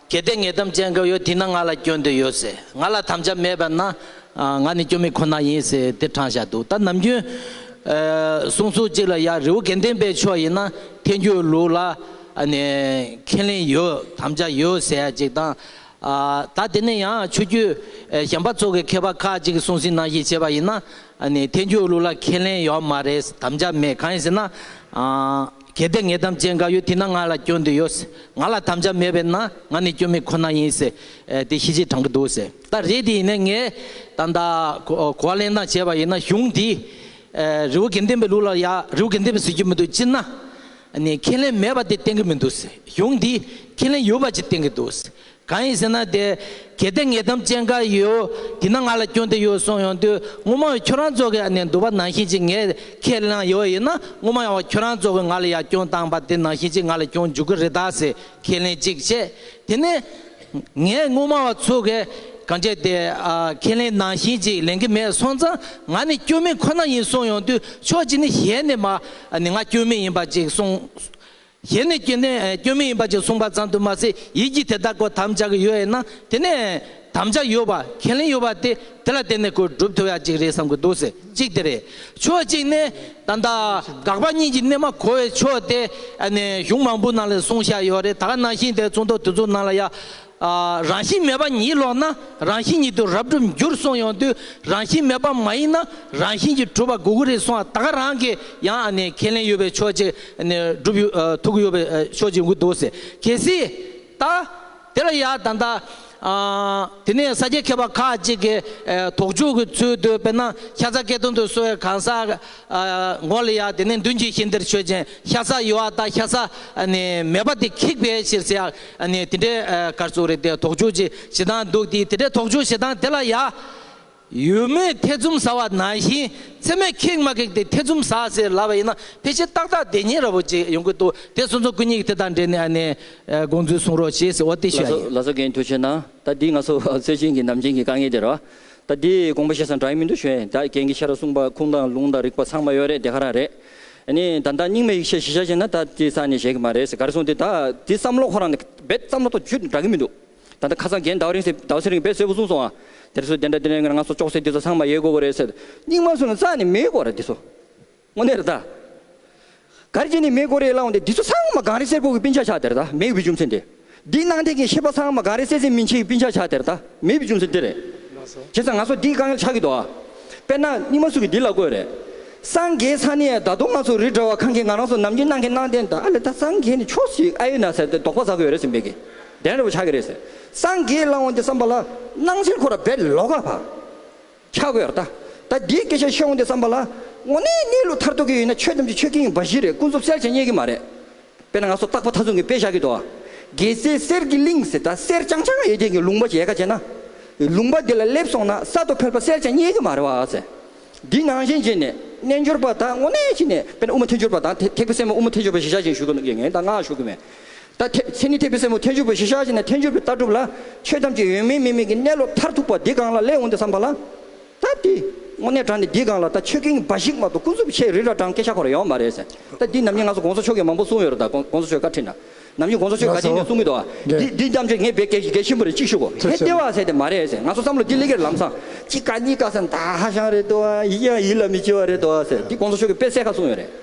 གལ་ཏེ་ངས་དམ་བཅའ་འགག་ཡོད་དེས་ན་ང་ལ་སྐྱོན་འདོད་ཡོད་ཟེར་ང་ལ་དམ་བཅའ་མེད་པ་ན་ང་ནི་སྐྱོན་མེད་ཁོ་ན་ཡིན་ཟེར་དེ་དྲང་བཞག་འདུག་ད་ནམ་རྒྱུན། གསུང་ཚུལ་གཅིག་ལ་ཡང་རི་བོ་དགེ་ལྡན་པའི་ཕྱོགས་ཡིན་ན་ཐལ་འགྱུར་ལུགས་ལ་ཁས་ལེན་ཡོད་དམ་བཅའ་ཡོད་ཟེར་ཡ་ཅིག་དང། ད་དེ་ནས་ཡང་ཆོས་རྒྱུད་གཞན་པ་ཚོ་གི་མཁས་པ་ཁག་ཅིག་གི་གསུང་ཟིན་ནང་བཞིན་བྱེད་པ་ཡིན་ན་ཐལ་འགྱུར་ལུགས་ལ་ཁས་ལེན་ཡོད་མ་རེད་དམ་བཅའ་མེད་གང་ཡིན་ཟེར་ན། གལ་ཏེ་ངས་དམ་བཅས་འགའ་ཡོད་དེས་ན་ང་ལ་སྐྱོན་དེ་ཡོད། ང་ལ་དམ་བཅའ་མེད་པས་ན་ང་ནི་སྐྱོན་མེད་ཁོ་ན་ཡིན། དེ་ཤེས་ཆེས་དྲང་པོ་འདུག། ད་རེས་དེ་ཡིན་ན་ངས་ད་ལྟ་གོ་བ་ལེན་སྟངས་བྱས་པ་ཡིན་ན་གཞུང་འདིས་རི་བོ་དགེ་ལྡན་པའི་ལུགས་ལ་ཡང་རི་བོ་དགེ་ལྡན་པས་བཟོས་ཀྱི་མི་འདུག་སྤྱིར་ན་ཁས་ལེན་མེད་པ་དེ་བསྟན་གྱི་མི་འདུག་གཞུང་འདིས་ཁས་ལེན་ཡོད་པ་ཅིག་བསྟན་གྱི་འདུག་གང་ཡིན་ཟེར་ན་དེ་གལ་ཏེ་ངས་དམ་བཅས་འགའ་ཡོད་དེ་ན་ང་ལ་སྐྱོན་དེ་ཡོད་གསུངས་ཡོང་དུས་ངོ་མ་བས་ཁྱོད་རང་ཙོག་གི་ནས་འདུག་པ་ནང་བཞིན་གྱིས་ངས་ཁས་བླངས་ཡོད་ཡིན་ན་ངོ་མ་ཡང་བ་ཁྱོད་རང་ཙོག་གི་ང་ལ་ཡ་སྐྱོན་བཏང་པ་དེ་ནང་བཞིན་གྱིས་ང་ལ་སྐྱོན་འཇུག་གི་རེད་ད་ཟེར་ཁས་ལེན་ཅིག་བྱས་དེ་ནས་ངས་ངོ་མ་བ་ཚོ་གས་གང་བྱས་དེ་ཁས་ལེན་ནང་བཞིན་གྱིས་ལེན་གི་མེད་སོང་ཙང་ང་ནི་སྐྱོན་མེད་ཁོ་ན་ཡིན་གསུངས་ཡོང་དུས་ཕྱོགས་གཅིག་ནས་གཞན་ནས་མ་ནི་ང་སྐྱོན་མེད་ཡིན་པ་ཅིག་གསུངས། གཞན་ནས་སྐྱོན་ལྡན་སྐྱོན་མེད་ཡིན་པ་ཅིག་གསུངས་པ་ཙམ་དུ་མ་ཟད་ཡིད་ཀྱིས་དེ་དག་གོ་དམ་བཅའ་གི་ཡོད་ཡིན་ན་དེ་ནི་དམ་བཅའ་ཡོད་པ་ཁས་ལེན་ཡོད་པ་དེ་དེ་ལ་བརྟེན་ནས་གོས་སྒྲུབ་ཐུབ་ཡག་ཅིག་རེད་བསམ་གི་འདུག་ཟེར་གཅིག་དེ་རེད་ཕྱོགས་གཅིག་ནས་ད་ལྟ་དགག་པ་གཉིས་ཀྱི་གནད་མ་གོ་བའི་ཕྱོགས་དེ་གཞུང་མང་པོའི་ནང་ལས་གསུངས་བཞག་ཡོད་རེད་ད་ག་ནང་བཞིན་དེ་ཚོང་དོག་དེ་ཚོའི་ནང་ལ་ཡ། རང་བཞིན་མེད་པ་ཉིད་ལོག་ན་རང་བཞིན་ཉིད་དུ་རབ་གྲུབ་འགྱུར་གསུངས་ཡོང་དུས་རང་བཞིན་མེད་པ་མ་ཡིན་ན་རང་བཞིན་གྱིས་གྲུབ་པ་གུ་གུ་རེད་གསུངས་བ་ད་ག་རང་གིས་ཡང་ཁས་ལེན་ཡོད་པའི་ཕྱོགས་གཅིག་སྒྲུབ་ཐུག་གི་ཡོད་པའི་ཕྱོགས་གཅིག་འགུག་འདུག་ཟེར་གལ་སྲིད་ད་དེ་ལ་ཡང་ད་ལྟ་དེ་ནས་ས་སྐྱའི་མཁས་པ་ཁག་ཅིག་གིས་དོགས་འཇུག་གི་ཚུལ་དུ་དཔེར་ན་ཤ་ཚ་སྐད་དོན་དུ་གསོལ་བའི་གང་ཟག་མགོ་ལ་ཡང་དེ་ནས་མདུན་གྱི་ཤིང་དེར་ཆོས་ཅན་ཤ་ཚ་ཡོད་བ་ད་ཤ་ཚ་མེད་པ་དེ་ཁེགས་པའི་ཕྱིར་ཟེར་ཡང། ཨ་ནི་དེ་འདྲའི་སྐར་ཚོགས་རེ་དེ་དོགས་འཇོག་ཅིག་བྱེད་སྟངས་འདུག་དེ་དེ་འདྲའི་དོགས་འཇོག་བྱེད་སྟངས་དེ་ལ་ཡ། ཡུལ་མིའི་ཐེ་ཚོམ་ཟ་བ་ནང་བཞིན་མཚན་མོའི་ཁེགས་མ་ཁེགས་དེ་ཐེ་ཚོམ་ཟ་ཟེར་ལབ་པ་ཡིན་ན་ཕལ་ཆེར་ཏག་ཏག་བདེ་ཉིན་ར་བོ་ཅིག་ཡོང་གི་འདུག་དེ་སོང་ཙང་སྐུ་ཉིད་ཀྱི་དེ་དང་འབྲེལ་ནས་ཨ་ནི་དགོངས་ཚུལ་གསུང་རོགས་ཞེས་ཟེར་བ་དེ་ལ་ཤོད་ཨ་ཡེ། སོ་ལ་སོ་རྒན་ཁྱོད་ཆོས་ན་ད་འདི་ང་སོ་སོའི་བྱིན་གྱིས་ནམ་བྱིན་གྱིས་དཀའ་ངལ་དེ་ར་བ། ད་འདི་དགོངས་པ་བཤད་སང་དྲ་ཡི་མི་འདུག་ཞོན་ད་རྒན་གྱི་ཤ་ར་གསུངས་པ་ཁུངས་དང་ལུང་དང་རིགས་པ་ཚང་མ་ཡོད་རེད་དེ་ག་རང་རེད། ནི་ད་ལྟ་རྙིང་མའི་ཡིག་ཆའི་གཞི་ཆ་བཞིན་ན་ད་དེ་ས་ནས་བཞེས་གི་མ་རེད་ཟེར་ག་རེ་གསུངས་དེ་ད་དེ་བསམ་བློ་ཁོ་རང་ནས་རྦད་བསམ་བློ་ཐོག་བཅུད་འདྲ་གི་མི་འདུག་ད་ལྟ་ཁ་སང་རྒན་ཟླ་བ་རིང་ཟེར་ཟླ་བ་ཚེ་རིང་རྦད་གསོལ་བོ་གསུངས་སོང་ཨ་དེར་སོ་དེ་འདྲ་དེ་འདྲ་ང་ཚོ་ཅོག་ཙེ་འདི་ཚོ་ཚང་མ་ཡོད་དགོས་པ་རེད་ཟེར་རྙིང་མ་སུ་ནས་རྩ་ནས་མེད་གོ་རེད་འདི་ཚོ་དངོས་གནས་རེད་ད། ག་རེ་བྱས་ནས་མེད་གོ་རེད་ལབ་འོང་དེ་འདི་ཚོ་ཚང་མ་གངས་རི་གསེར་ཕུག་གི་པིན་ཆ་ཆགས་དེ་རེད་ད་མེད་བི་ཅུང་ཚེ་འདི། འདི་གནང་སྟེགས་ཀྱི་ཤེས་པ་ཚང་མ་ག་རེ་སེ་སེ་མིན་ཆིག་པིན་ཆག་ཆག་དེར་ད་མེད་པའི་རྒྱུ་མཚན་འདི་རེད། བྱས་ཙང་ང་ཚོ་འདིའི་དཀའ་ངལ་ཆགས་ཀྱི་འདུག་ཨ། དཔེར་ན་སྙིགས་མ་སུ་གི་འདི་ལ་དགོས་རེད། སངས་རྒྱས་ས་ནི་ད་དུང་ང་ཚོ་རི་བྲལ་བ་གང་གིས་ང་རང་ཚོ་ནམ་རྒྱུན་གནང་གིན་གནང་བསྟན་ད་ཨ་ལས་ད་སངས་རྒྱས་ནི་ཕྱོགས་ཤིག་ཨ་ཡོད་ན་ཟེར་ཏེ་དོགས་པ་ཟ་གི་ཡོད་རེད་ཟེར་འབད་ཀྱི་དན་རེ་བོ་ཆགས་ཀྱི་རེད་ཟེར། སངས་རྒྱས་བླང་བ་འདི་བསམ་པ་ལ། སྣང་སྲིད་ཁོ་ར་བེད་ལོག་ག་བ། ཆགས་དགོས་ར་ད། ད་འདིའི་སྐད་ཆ་ཤོད་འོང་སྟེ་བསམ་པ་ལ། དངོས་གནས་གནས་ལུགས་མཐར་ཐུག་གི་ཡིན་ན་ཆོས་ཐམས་ཅད་ཆོས་ཀྱི་ཡིན་པ་བཞི་རེད་ཀུན་རྫོབ་གསལ་བྱེད་རྙེད་ཀྱི་མ་རེད། དཔེར་ན་ང་ཚོ་རྟག་པ་མཐའ་མཚུངས་ཀྱི་དཔེ་བཞག་གི་འདུག་ཨ། རྒྱལ་སྲས་གསེར་གྱི་གླིང་ཟེར་ད་གསེར་རྐྱང་རྐྱང་ཡོད་མཁན་གྱི་ལུང་པ་ཞིག་ཡལ་ག་བྱས་ན། ལུང་པ་འདི་ལ་སླེབས་སོང་ན་གསར་དུ་ཕེབས་པ་གསལ་བྱེད་རྙེད་ཀྱི་མ་རེད་བ་ཨ་ཟེར། འདི་ནང་བཞིན་བྱས་ནས་རྣལ་འབྱོར་པ་དག་དངོས་གནས་གཅིག་ནས་དཔེར་ན་དབུ་མ་ཐལ་འགྱུར་པ་དང་ཐེག་པའི་སེམས་དབུ་མ་ཐལ་འགྱུར་པ་ཞེས་བཞག་བཞིན་ཞུ་གི་ཡིན་ད་ང་ཞུ་གི་མེད། ད་ཐེག་ཚེ་ནི་ཐེག་པའི་སེམས་འོད་ཐལ་འཇུག་པའི་གཞི་ཤར་ཕྱིན་ནས་ཐལ་འཇུག་པའི་ལྟ་གྲུབ་ལ། ཆོས་ཐམས་ཅད་ཡོད་མིན་མེད་མིན་གྱི་གནས་ལོག་མཐར་ཐུག་པ་འདི་གང་ལ་སླད་འོང་འདི་བསམ་པ་ལ། ད་འདི་དངོས་གནས་དྲང་ནི་འདི་གང་ལ་ད་ཆོས་ཀིང་འབའ་ཞིག་མ་གཏོགས་ཀུན་རྫོབ་ཆེ་རི་ར་དྲང་སྐད་ཤ་ཁོ་ར་ཡོང་མ་རེད་ཟེར། ད་འདི་ནམ་རྒྱུན་ང་ཚོ་དགོངས་ས་ཆོས་ཀིང་མང་པོ་གསུང་ཡོད་རེད་ད་དགོངས་ས་ཆོས་བཀའ་ཁྲིད་ན། ནམ་རྒྱུན་དགོངས་ས་ཆོས་བཀའ་དེ་ནས་གསུང་གི་འདུག་ཨ། འདི་འདི་ཐམས་ཅད་ངས་བེད་གད་གད་ཆེན་པོ་རེད་ཅིག་ཤུག་གོ་ཧེ་བདེ་བ་ཟེར་དེ་མ་རེད་ཟེར་ང་ཚོ་བསམ་བློ་འདི་ལས་ཀེར་ལམ་སང། གཅིག་ཀ་གཉིས་ཀ་ཟེར་མདའ་ཧ་ཤང་རེད་འདུག་ཨ་ཡིད་ཡང་ཡིད་ལ་མི་འཆི་བ་རེད་འདུག་ཨ་ཟེར་འདི་དགོངས་ས་ཆོས་ཀིང་དཔེ་གསལ་ཁ་གསུང་ཡོད་རེད།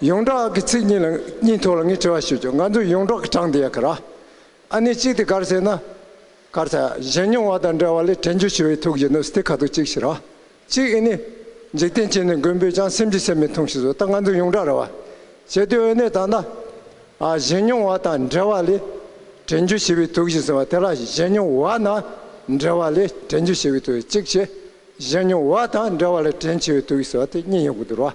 ཡོངས་གྲགས་ཀྱི་ཚིག་གཉིས་ལ་གཉིས་ཐོག་ལ་ངས་དྲི་བ་ཞུ་རྒྱུ་ང་ཚོ་ཡོངས་གྲགས་ཀྱི་གྲངས་དེ་ཡ་གི་ར། ཨ་ནི་གཅིག་དེ་གར་ཟེར་ན། གར་ཚ་གཞན་མྱོང་བ་དང་འདྲ་བ་ལས་དྲན་རྒྱུ་ཞུ་བའི་ཐུགས་ཀྱི་ནུབ་སྟེ་ཁ་ཐུག་གཅིག་ཞིག་ར། གཅིག་ཨི་ནི། འཇིག་རྟེན་སྐྱེ་ནས་མགོན་པོས་ཀྱང་སེམས་ཀྱི་སེམས་མི་མཐོང་ཞིག་བཟོ་ད་ང་ཚོ་ཡོངས་གྲགས་ར་བ། བྱེད་དུས་འོན་ནེ་ད་ན། ཨ་གཞན་མྱོང་བ་དང་འདྲ་བ་ལས། དྲན་རྒྱུ་ཞི་བའི་ཐུགས་ཞིག་ཟེར་བ་དེ་ར་གཞན་མྱོང་བ་ན། འདྲ་བ་ལས་དྲན་རྒྱུ་ཞི་བའི་ཐུགས་ཡ་གཅིག་བྱེད། གཞན་མྱོང་བ་དང་འདྲ་བ་ལས་དྲན་ཆེ་བའི་ཐུགས་ཡིག་ཟེར་བ་དེ་གཉིས་ཡོང་གི་འདུག་ར།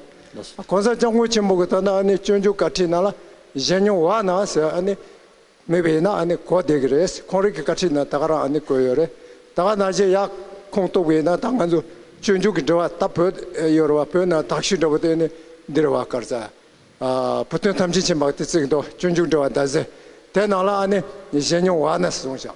གོང་ས་སྐྱབས་མགོན་ཆེན་པོ་གི་ལྟར་ན་ཨ་ནི་སྤྱོད་འཇུག་བཀའ་ཁྲིད་ནང་ལ་གཞན་མྱོང་བ་ན་ཟེར་ཨ་ནི་མེད་པ་ཡིན་ན་ཨ་ནི་གོ་བདེ་གི་རེད་ཁོང་རིགས་ཀྱི་བཀའ་ཁྲིད་ནང་ད་ག་རང་ཨ་ནི་བཀོད་ཡོད་རེད་ད་ག་ན་གཞན་ཡག་ཁོང་རྟོགས་པའི་ཡིན་ན་ད་ང་ཚོ་སྤྱོད་འཇུག་གི་འབྲེལ་བ་ད་བོད་ཡོད་རེད་བ་བོད་ནང་དག་ཞུས་འདྲ་བོ་དེ་ཨ་ནི་འདིར་བ་དཀར་རྩ་བུ་སྟོན་ཐམས་ཅད་ཆེན་པག་ཏི་བརྩིགས་འདུག་སྤྱོད་འཇུག་འབྲེལ་བ་ཟླ་ཟེར་དེ་ནང་ལ་ཨ་ནི་གཞན་མྱོང་བ་ན་ཟུང་བཞག་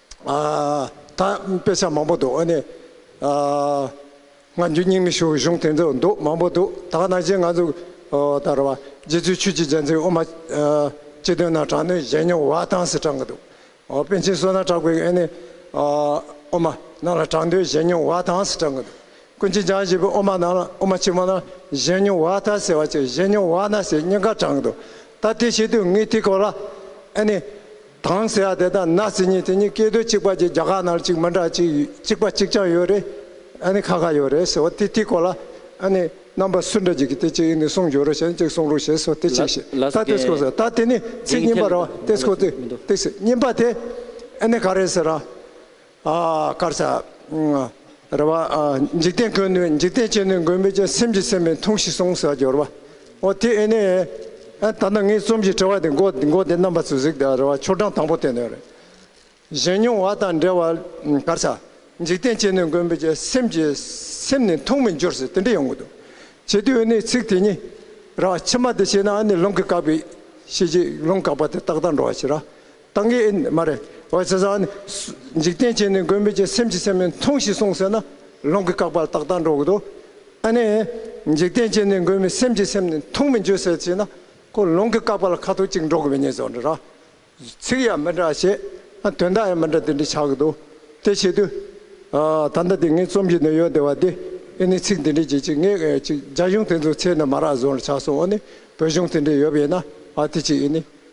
ད་དཔེ་ཆ་མང་པོ་འདུག་ཨ་ནི། ང་རྒྱུ་སྙིང་མི་ཞུ་གཞུང་དེ་ཚོ་འདུག་མང་པོ་འདུག་ད་ནང་བཞིན་ང་ཚོ་ད་རེ་བ་རྗེ་བཙུན་ཆོས་ཀྱི་རྒྱལ་མཚན་དབུ་མ་སྤྱི་དོན་ནང་དྲག་གནོན་བཞེས་མྱོང་བ་དང་ཟེར་དྲག་གི་འདུག་པཎ་ཆེན་བསོད་ནམས་གྲགས་པའི་ཨ་ནི། དབུ་མ་ནང་ལ་དྲག་འདོན་བཞེས་མྱོང་བ་དང་ཟེར་དྲག་གི་འདུག་ཀུན་མཁྱེན་འཇམ་བཞད་པའི་དབུ་མ་ནང་ལ་དབུ་མ་ཆེན་མོ་ནང་བཞེས་མྱོང་བ་དང་ཟེར་བ་བཅས་བཞེས་མྱོང་བ་ན་ཟེར་སྙིང་ག་དྲག་གི་འདུག་ད་དེ་བྱེད་དུས་ངའི་དེ་སྐོར་ལ་ཨ་ནི། དང་ཟེ་ཡ་དེ་དང་ན་ཟེ་གཉིས་དེ་གཉིས་སྐད་དོད་གཅིག་པ་གྱི་རྒྱ་གར་ནང་གཅིག་མི་འདྲ་གཅིག་གཅིག་པ་གཅིག་ཀྱང་ཡོད་རེད་ཨ་ནི་ཁ་ཁ་ཡོད་རེད་ཟེར་བ་དེ་དེ་གོ་ལ་ཨ་ནི་རྣམ་པ་སུ་འདྲ་གཅིག་གི་དེ་གཅིག་ཡིན་ནི་གསུང་བརྗོད་རོ་ཞེས་གཅིག་གསུང་རོགས་ཞེས་སོ་དེ་གཅིག་ཞེས་ལ་ད་དེ་སྐོ་ཟེར་ད་དེ་ནི་ཚིག་རྙིང་པ་ར་བ་དེ་སྐོ་དེ་དེ་སེ་རྙིང་པ་དེ་ཨ་ནི་ག་རེད་ཟེར་ར་དཀར་ཆག། རེ་བ། འཇིག་རྟེན་ཀུན་ནི་འཇིག་རྟེན་ཅན་ནི་མགོན་མེད་ཀྱི་སེམས་ཀྱིས་སེམས་མི་མཐོང་ཞིག་གསུངས་ཟེར་བ་སྦྱོར་བ། ཨོ་དེ་ཨེ་ནི། ད་ནི་ངའི་རྩོམ་གྱི་དྲི་བ་དེ་འགོ་དེ་རྣམ་པ་ཚོས་གཟིགས་དང་རེ་བ་ཆོ་འབྲང་དང་པོ་དེ་ནི་རེད། གཞན་མྱོང་བ་དང་འབྲེལ་བ་དཀར་ཆག། འཇིག་རྟེན་ཅན་ནི་མགོན་མེད་ཀྱི་སེམས་ཀྱིས་སེམས་ནི་མཐོང་མི་འགྱུར་ཟེར་དེ་འདྲ་ཡོང་གི་འདུག་བྱེད་དུས་ཨེ་ནི་ཚིག་དེ་གཉིས། རེ་བ་ཕྱི་མ་དེ་བྱས་ན་ཨེ་ནི་རླུང་གིས་བཀག་པའི་ཤེས་བྱེད་རླུང་བཀག་པ་དེ་རྟག་རྟག་འགྲོ་བ་ཕྱིར། ཏང་གིས་ཨེ་མ་རེད། འོད་ཟེར་བཟང་ནི། འཇིག་རྟེན་བྱེད་ནི་མགོན་མེད་ཀྱི་སེམས་ཀྱིས་སེམས་མི་མཐོང་ཞེས་གསུངས་ཟེར་ན་ལུང་གི་བཀག་པར་ཏག་ཏག་འགྲོ་གི་འདུག་ཨ་ནི། འཇིག་རྟེན་བྱེད་ནི་མགོན་མེད་སེམས་ཀྱིས་སེམས་ནི་མཐོང་མི་འགྱོད་ཟེར་ཅེས་ན་ཁོ་ལུང་གི་བཀག་པར་ཁ་ཐུག་ཅིག་འགྲོ་གི་མི་རྙེད་ཟོ་འདྲ། ཚིག་ཡང་མི་འདྲ་བྱེད། དོན་དག་ཡང་མི་འདྲ་དེ་འདྲ་ཆགས་ཀྱི་འདུག་དེ་ཆེད་དུ། ད་ལྟ་དེ་ངའི་རྩོམ་གྱི་ནུས་ཡོད་བདེ་བ་འདི་ཨེ་ནི་ཚིག་འདི་འདྲའི་རྗེས་ཅིག་ངས་ཅིག་རྒྱ་གཞུང་དེ་ཚོ་ཚེ་ནི་མ་རག་ཟོ་འདྲ་ཆགས་སོང་ཨ་ནི་བོད་གཞུང་དེ་འདྲའི་ཡོད་པ་ཡིན་ན་ཨ་དེ་ཅིག་ཨེ་ནི།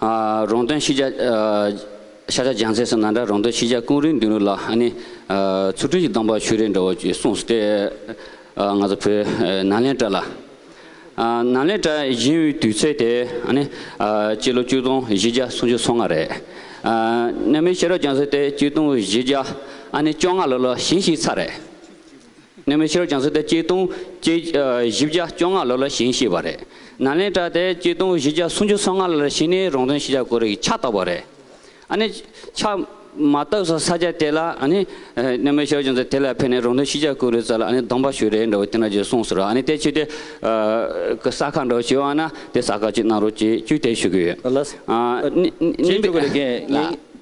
རོང་སྟོན་ཤེས་བྱ། ཤ་ཆ་ལྗང་ཚལ་སོགས་ནང་འདྲ་རོང་སྟོན་ཤེས་བྱ་ཀུན་རིག་མདུན་རུ་ལ་ཨ་ནི། ཚུར་སྤྲུལ་གྱི་གདམས་པ་ཆོས་རིག་འདྲ་བོ་ཅེས་གསུངས་སོ་སྟེ། ང་ཚོ་བོད་ནཱ་ལེནྡྲ་ལ། ནཱ་ལེནྡྲ་གཞན་དབུས་དུས་ཚོད་དེ་ཨ་ནི། སྤྱི་ལོ་བཅུ་སྟོང་བཞི་བརྒྱ་སུམ་ཅུ་སོ་ལྔ་རེད། གནའ་མིའི་ཤེས་རབ་སྦྱངས་ཚུལ་དེ་སྤྱི་སྟོང་བཞི་བརྒྱ་ཨ་ནི་བཅོ་ལྔ་ལོ་ལ་བྱིན་ཞིག་ཚར་རེད། ནས་མི་ཤི་རོ་བྱང་སེ་ཏེ་སྐྱིལ་ཀྲུང་བཅས་བཞི་བརྒྱ་བཅོ་ལྔ་ལོ་ལ་བྱིན་ཤེས་པ་རེད། ནཱ་ལེནྟྲ་དེ་སྐྱིལ་ཀྲུང་བཞི་བརྒྱ་སུམ་ཅུ་སོ་ལྔ་ལོ་ལ་བྱིན་ནས་རོང་སྟོན་ཤེས་བྱ་གོ་རེ་གི་ཕྱག་བཏབ་པ་རེད། ཨ་ནི་ཕྱག་མ་བཏབ་ས་ས་སྐྱ་དེ་ལ་ཨ་ནི། ནས་མི་ཤི་རོ་བྱང་སེ་དེ་ལ་ཕེབས་ནས་རོང་སྟོན་ཤེས་བྱ་གོ་རེ་ཙལ་ལ་ཨ་ནི་སྡོམ་པ་ཞུ་རེ་འདྲ་བོ་དེ་འདྲ་ཅིག་གསུངས་སོ་ར་ཨ་ནི་དེ་ཕྱིས་དེ། ས་ཁ་འདྲ་བོ་ཞིག་ཨང་ན་དེ་ས་ཁ་ཅིག་གནང་རོགས་ཅེས་བཅུད་དེ་ཞུ་གི་ཡོད། ཨ་ནི། བྱེད་འཇུག་གི་ལས་འགན།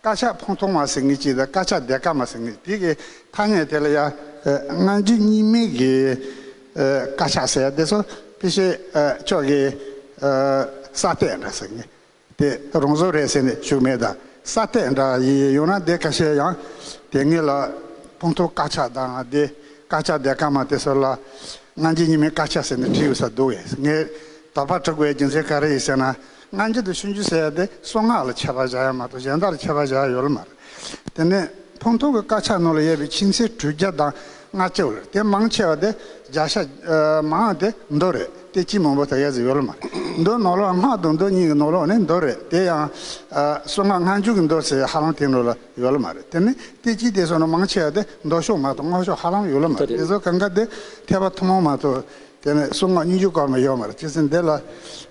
དཀར་ཆག་ཕོང་ཐོག་མ་ཟེར་ངེས་ཀྱི་དཀར་ཆག་སྡེ་དཀར་མ་ཟེར་ངེས་དེ་གི་ཐ་སྙད་དེ་ལ་ཡ། སྔ་འགྱུར་གཉིས་མེད་ཀྱི་དཀར་ཆག་ཟེར་ཡ་དེ་ཚོ་དཔེ་ཆའི་ཕྱོགས་ཀྱི་ས་སྟེགས་འདྲ་ཟེར་ངེས་དེ་རང་བཟོ་རེད་ཟེར་ནས་ཞུགས་མེད་ད་ས་སྟེགས་འདྲ་ཡི་ཡོད་ན་དེ་ཀ་ཤས་ཡང་དེ་ངེས་ལ་ཕོང་ཐོག་དཀར་ཆག་དང་དེ་དཀར་ཆག་སྡེ་དཀར་མ་དེ་ཚོ་ལ་སྔ་འགྱུར་གཉིས་མེད་དཀར་ཆག་ཟེར་ནས་བྲིས་ཡོད་ས་འདུག་ངས་དོགས་པ་དྲུག་པའི་རྒྱུ་མཚན་ག་རེ་ཡིན་ཟེར་ན་སྔ་འགྱུར་དུ་ཤུན་རྒྱུད་ཟེར་ཡ་དེ་སོ་སྔགས་ལ་ཆད་པ་བཞག་ཡ་མ་གཏོགས་གཞན་དག་ལ་ཆད་པ་བཞག་ཡ་ཡོད་ལ་མ་རེད། དེ་ནས་ཕུང་ཐོག་གི་དཀར་ཆག་ནོར་ལ་གཡས་པའི་ཕྱིན་ཆད་གྲུ་བརྒྱ་དང་ལྔ་བཅུ་ལ་དེ་མང་ཆེ་བ་དེ་བརྒྱ་ཤ་མང་བ་དེ་མདོ་རེད་དེ་སྤྱི་མང་པོ་དག་གཡས་སུ་ཡོད་ལ་མ་རེད། མདོའི་ནོར་ལོག་སྔགས་དང་མདོ་གཉིས་ཀྱི་ནོར་ལོག་ནི་མདོ་རེད་དེ་ཡང། སོ་སྔགས་སྔ་འགྱུར་གྱི་མདོ་ཟེར་ཡ་ཧ་ལམ་དེང་རབས་ལ་ཡོད་ལ་མ་རེད། དེ་ནི་དེ་སྤྱི་དེ་སོ་ན་མང་ཆེ་བ་དེ་མདོ་ཤོག་མ་གཏོགས་སྔགས་ཤོག་ཧ་ལམ་ཡོད་ལ་མ་རེད་དེ་ཚོ་གང་གཱ་དེ་ཐེག་པ་ཐུན་མོང་མ་གཏོགས། དེ་ནས་སོ་སྔགས་སྙིང་རྒྱུད་སྐོར་མ་ཡོད་མ་རེད་ཅི་ཟེར་འདི་ལ།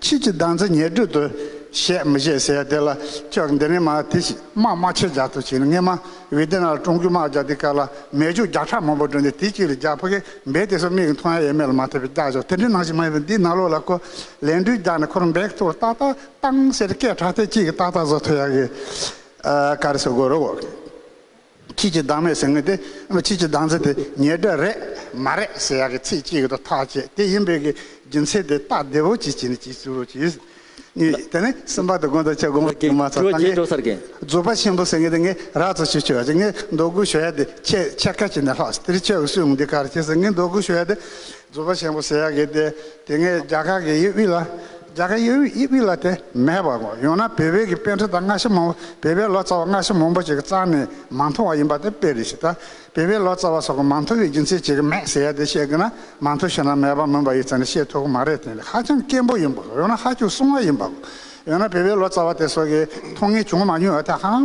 ཕྱིས་ཀྱི་གདངས་ཚིག་ཉེར་སྦྲུལ་དུ་བཤད་མི་བཤད་ཟེར་ཡ་དེ་ལ་ཅོག་འདི་ནས་མ་དེ་ཞིག་དམག་དམག་ཆས་རྒྱག་ཐུབ་ཆེ་ནི་ངས་མ་བི་དེ་ནག་ལ་ཀྲུང་གོའི་དམག་རྒྱག་དེ་སྐབས་ལ་མེ་ཆུ་རྒྱག་ཁྲག་མང་པོ་བསྒྲོན་ཏེ་དེ་གཅིག་ལ་རྒྱག་ཕ་གས་འབེ་དེ་སོགས་མིག་གི་མཐོང་ཡ་ཡས་མེ་ལ་མ་ཐེབས་པའི་རྒྱག་ཆོག་དེ་འདྲའི་ནང་ཞིག་མ་ཡིན་པ་འདིའི་ནག་ལོ་ལ་ཁོ་ལན་སྦྲུལ་རྒྱག་ནས་ཁོ་རང་འབེ་ཐུག་ལ་ཏག་ཏག་ཏང་ཟེར་ཏེ་སྐད་གྲགས་ཐད་ཅིག་གིས་ཏག་ཏག་བཟོ་ཐུབ་ཡ་གི་ཀ་རེ་བཟོ་དགོས་རོགས། ཁྱེད་ཀྱི་སྡང་མེད་ཟེར་ངེས་ཏེ། ཁྱེད་ཀྱི་སྡང་ཚིག་དེ་ཉེས་སྒྲ་རེད་མ་རེད་ཟེར་ཡག་གི་ཚིག་གཅིག་དུ་ཐག་བཅད་དེ་ཡིན་པས་གི་རྒྱུ་མཚན་དེ་སྟག་སྡེ་བོ་གཅིག་བྱས་ནས་གཅིག་བཙུར་རོ་གྱིས། གཉིས་དེ་ནི་སེམས་པ་དང་དགོན་དང་ཆག་སྒོ་དུ་མ་ཚ་ད་ངས་རྫོགས་པ་ཆེན་པོ་ཟེར་ངེས་ཏེ་ངས་རག་ཚོ་ཆུ་ཆོས་ཡ་ཆེ་ངས་འདོགས་གུ་ཞོ་ཡ་དེ་ཁྱེད་ཆེ་ཁ་བྱས་ནས་ལྷགས་སོ་དེ་རི་ཆོས་གུ་སུས་འོང་དེ་གར་བྱས་ཟེར་ངས་འདོགས་གུ་ཞོ་ཡ་དེ་རྫུ་བ་ཆེན་པོ་ཟེར་ཡག་གི་དེ་དེ་སྔའི་རྒྱ་གར་གྱི་དབྱིབས་དབྱིབས་ལ་རྒྱ་གར་དབྱིབས་དབྱིབས་ལ་དེ་མེད་པ་དགོ་ཡོང་ན་བལ་བོད་ཀྱི་དཔེ་འཁྲི་དང་སྔ་ཕྱི་མང་བོ་བལ་བའི་ལོ་ཙཱ་བ་སྔ་ཕྱི་མང་བོ་ཞིག་གཙང་ནས་མ་མཐོང་བ་ཡིན་པ་དེ་དཔེ་རེད་ཞེས་ད་བལ་བའི་ལོ་ཙཱ་བ་སོགས་ཀྱི་མ་མཐོ་བའི་རྒྱུ་མཚན་ཅིག་མེད་ཟེར་ཡག་དེ་བཤད་གི་ན་མ་མཐོ་ཞེ་ན་མེད་པ་མིན་པ་ཡིག་ཚང་ནས་བཤད་ཐུབ་གི་མ་རེད་དེ་ནི་ཧ་ཅང་སྐྱེན་པོ་ཡིན་པ་དགོ་ཡོང་ན་ཧ་ཅུག་སྲུང་བ་ཡིན་པ་དགོ་ཡོང་ན་བལ་བའི་ལོ་ཙཱ་བ་དེ་སོགས་ཀྱི་མཐོང་ངེས་བྱུང་མ་མྱོང་བ་དེ་ཧ་ལམ་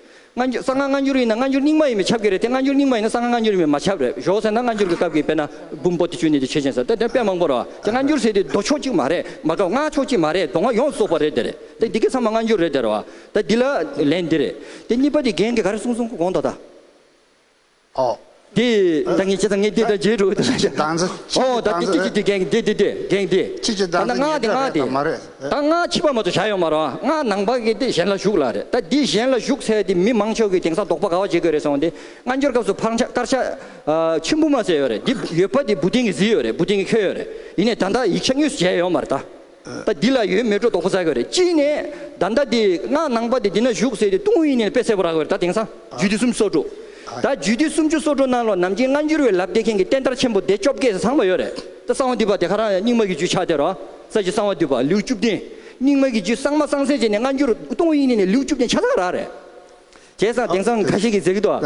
སྔ་འགྱུར་གསང་སྔགས་སྔ་འགྱུར་ཡིན་ན་སྔ་འགྱུར་རྙིང་མ་ཡིན་པའི་ཆབ་ཀྱི་རེད་དེ་སྔ་འགྱུར་རྙིང་མ་ཡིན་ན་གསང་སྔགས་སྔ་འགྱུར་ཡིན་པའི་མ་ཆབ་རེད་ཞོགས་ཟེར་ན་སྔ་འགྱུར་གྱི་སྐབས་ཀྱི་དཔེ་ན་བུམ་པོ་ཏི་ཆུ་ནི་དེ་བྱེད་ཅིང་ཟེར་ཏེ་དེ་དཔེ་མང་པོ་རེད་བ་དེ་སྔ་འགྱུར་ཟེར་དུས་མདོ་ཕྱོགས་གཅིག་མ་རེད་མ་ག་སྔགས་ཕྱོགས་གཅིག་མ་རེད་མདོ་སྔགས་ཡོངས་སུ་གསོག་པ་རེད་དེ་རེད་དེ་འདི་གའི་ཚང་མ་སྔ་འགྱུར་རེད་དེ་རེད་བ་དེ་འདི་ལ་ལན་འདི་རེད་དེ་གཉིས་པ་དེ་རྒན་གྱིས་ག་རེ་གསུང་གསུང་གོང་དོ་ད། ཨོ། དེ། ད་ངས་ཁྱེད་དང་ངས་དེ་ད་རྗེས་འགྲོ་གི་འདུག་ད། ཨོ། ད་དེ་དེ་དེ་གན་གི་དེ་དེ་དེ་གན་གི་དེ། ད་ནག་དེ་ནག་དེ། ད་ནག་ཕྱི་པ་མ་གཏོགས་བྱ་ཡོད་མ་རོ། ནག་ནང་པ་གི་དེ་གཞན་ལ་ཞུགས་ལ་རེད། ད་དེ་གཞན་ལ་ཞུགས་ཚད་དེ་མི་མང་ཕྱོགས་ཀྱི་དེང་སང་དོགས་པ་ག་བ་བྱེད་དགོས་རེད་སོང་དེ། སྔ་འགྱུར་སྐབས་སུ་ཕག་ཆ་དཀར་ཆ། ཆུན་པོ་མ་ཟེར་ཡོད་རེད་དེ་ཡོད་པ་དེ་འབུ་སྡིང་གི་བཟི་ཡོད་རེད་འབུ་སྡིང་གི་ཁྱོད་ཡོད་རེད། ཡིན་ནས་ད་ད་ཡིག་ཆ་གཉིས་སུ་བྱས་ཡོད་མ་རེད་ད། ད་འདི་ལ་ཡོད་མེད་སྒྲོ་འདོགས་པོ་བཟའ་དགོས་རེད་གཅིག་ནས་ད་ཟླ་འདི་སྔགས་ནང་པ་དེ་འདི་ན་བཞུགས་ཟེར་ཏེ་ཏུང་ཧོའི་ཡིན་ནི་ལ་དཔེ་གསལ་པོ་རག་དགོས་རེད་ད་དེང་སང་རྒྱུད་སྡེ་སུམ་ཅུ་སོ་དྲུག་ད་རྒྱུད་སྡེ་སུམ་ཅུ་སོ་དྲུག་ནང་ལོ་ནམ་རྒྱུན་སྔ་འགྱུར་བའི་ལབ་བསྡད་མཁན་གྱི་བསྟན་དར་ཆེན་པོ་སྡེ་བཅོ་བརྒྱད་ཟང་པ་ཡོད་རེད་ད་གསང་བ་འདུས་པ་དེ་ག་རང་རྙིང་མ་གི་རྒྱུད་ཆགས་དེ་རོ་ས་ཀྱི་གསང་བ་འདུས་པ་ལེའུ་བཅུ་བདུན་རྙིང་མ་གི་རྒྱུད་གསང་མ་གསང་སེ་བྱས་ནས་སྔ་འགྱུར་ཏུང་ཧོའི་ཡིན་ནི་ལ་ལེའུ་བཅུ་བདུན་ཆགས་ས་ག་རང་རེད་དེ་སང་དེང་སང་ག་ཤེད་ཀྱི་ཟེར་གི་འདུག་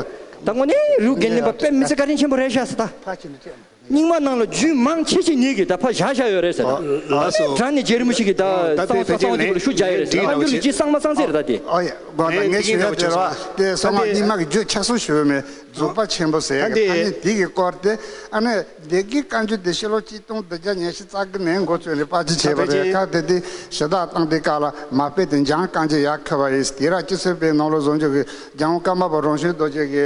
ད་ངོ་ནས་རིའུ་རྒན་ནི་པ་དཔེ་མི་ཚེ་བཀའ་དྲིན་ཆེན་པོ་རེད་ཤ་ས་ད། རྙིང་མ་ནང་ལ་རྒྱུས་མང་ཆེ་ཆེ་ཉིད་ཀྱིས་ད་ཕ་བཞག་བཞག་ཡོད་རེད་ཟེར་ད། དྲ་ནི་རྗེ་རིན་པོ་ཆེ་ཀྱིས་ད་གསང་བ་ས་གསང་བ་དེ་གུ་ལ་ཤུ་བརྒྱག་ཡོད་རེད་ཟེར་ཨ་འགྱུར་ལི་རྗེའི་གསང་མ་གསང་ཟེར་རེད་ད་དེ། ཨོ་ཡ། ངས་ཞུ་ཡ་ཟེར་བ་དེ་གསང་སྔགས་རྙིང་མ་གི་རྒྱུད་ཆགས་སུ་ཞུ་མི་རྫོགས་པ་ཆེན་པོ་ཟེར་གི་ཐ་སྙད་དེ་གི་སྐོར་དེ་ཨ་ནེ་བདེ་དགེའི་བཀའ་འགྱུར་དེ་ཤེས་ལོ་གཅིག་སྟོང་བདུན་བརྒྱ་ཉེར་བཞི་རྩ་དགུ་ནས་མགོ་ཚོས་ནས་དཔར་བརྗོད་བྱས་པ་རེད་ཁག་དེ་དེ་ཞེ་དྲག་བཏང་དེ་ཀ་ལ་མ་སྤེལ་དེ་འཇང་རྐང་རྗེས་ཡར་འཁོད་པ་ཡིན་དེ་ར་སྤྱི་ཚོད་པས་ནོར་ལོ་བཟོ་འཇུག་གི་རྒྱང་བཀའ་མ་པ་རོང་ཞུན་རྡོ་རྗེ་གི་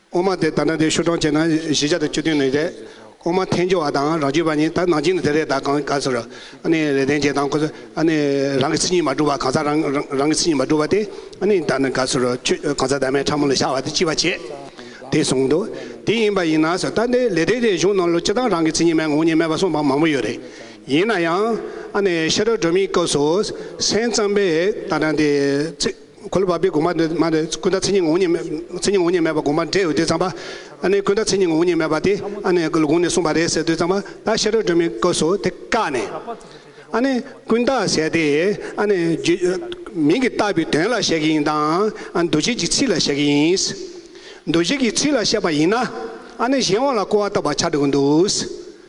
ཨོ་མ་དེ་ད་ནང་དེ་ཤོ་གྲོང་བྱས་ན་བཞི་ཆ་དང་བཅུ་བདུན་ནས་རེད། ཨོ་མ་འཐེན་རྒྱུ་བ་དང་རང་བྱུས་པ་གཉིས་ད་ནང་བྱིན་ནས་དེ་རེད་ད་གང་ག་ཟེར། ཨ་ནི་རེ་དན་ཅེ་དང་ཁོ་ཚོ་ཨ་ནི་རང་གི་ཚིག་གཉིས་མ་འགྲུབ་བ་གང་ཟག་རང་རང་གི་ཚིག་གཉིས་མ་འགྲུབ་བ་དེ་ཨ་ནི་ད་ནི་ག་ཟེར་ཁྱོད་གང་ཟག་དར་མའི་ཕྲ་མོ་ལ་ཤར་བ་དེ་ཅི་བ་བྱེད། དེ་གསུངས་འདུག་དེ་ཡིན་པ་ཡིན་ན་ཟེར་ད་ནི་ལས་དེ་རེ་གཞུང་ནང་ལོ་ཅི་ལྟར་རང་གི་ཚིག་གཉིས་མའི་ངོ་གཉིས་སྨྲས་པ་གསུངས་པ་མང་པོ་ཡོད་རེད། ཡིན་ན་ཡང་ཨ་ནི་ཤ་ཁྲག་སྒྲོན་མེའི་སྐབས་སུ་སེམས་ཙམ་པས་ད་ནང་དེ་ཚིག། འཁོར་ལོ་བར་པའི་དགོངས་པ་འདི་མ་ནི་ཀུན་ད་ཚིག་ཉིད་ངོ་བོ་ཉིད་མེད་པ་དགོངས་པ་འགྲེལ་ཡོད་དུས་ཙམ་པ་ཨ་ནི་ཀུན་ད་ཚིག་ཉིད་ངོ་བོ་ཉིད་མེད་པ་དེ་ཨ་ནི་དགོངས་ནས་གསུངས་པ་རེད་ཟེར་དུས་ཙམ་པ་ད་ཤེས་རབ་སྒྲོན་མེའི་སྐབས་སུ་དེ་བཀག་ནས་ཨ་ནི་ཀུན་ད་ཟེར་ཏེ་ཨ་ནི་མིང་གིས་བཏགས་པའི་དོན་ལ་བཤད་ཀྱི་ཡིན་དང་ཨ་འདུ་བྱེད་ཀྱི་ཚིག་ལ་བཤད་ཀྱི་ཡིན། འདུ་བྱེད་ཀྱི་ཚིག་ལ་བཤད་པ་ཡིན་ན་ཨ་ནི་གཞན་དབང་ལ་རྐོ་བ་ལྟ་བུར་ཆགས་འགྲོ་གི་འདུག།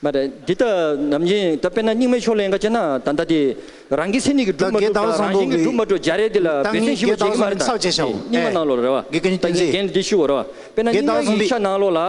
མ་རེད། འདི་ལྟ་ནམ་ཡིན་ད་དཔེར་ན་རྙིང་མའི་ཕྱོགས་ལས་འགའ་བྱས་ན་ད་ལྟ་དེ་རང་གི་སེམས་ཉིད་ཀྱི་སྒྲུབ་མ་གྲུབ་དང་རང་བཞིན་གྱི་སྒྲུབ་མ་གྲུབ་བྱ་རེད་འདི་ལ་འབད་བརྩོན་ཞིབ་མོ་བྱེད་ཀྱི་མ་རེད་ད་དེ་རྙིང་མ་ནང་ལོགས་རེད་བ། ད་རྒན་འདི་ཤི་བོ་རེད་བ། དཔེར་ན་རྙིང་མ་ཡིག་ཆ་ནང་ལོགས་ལ།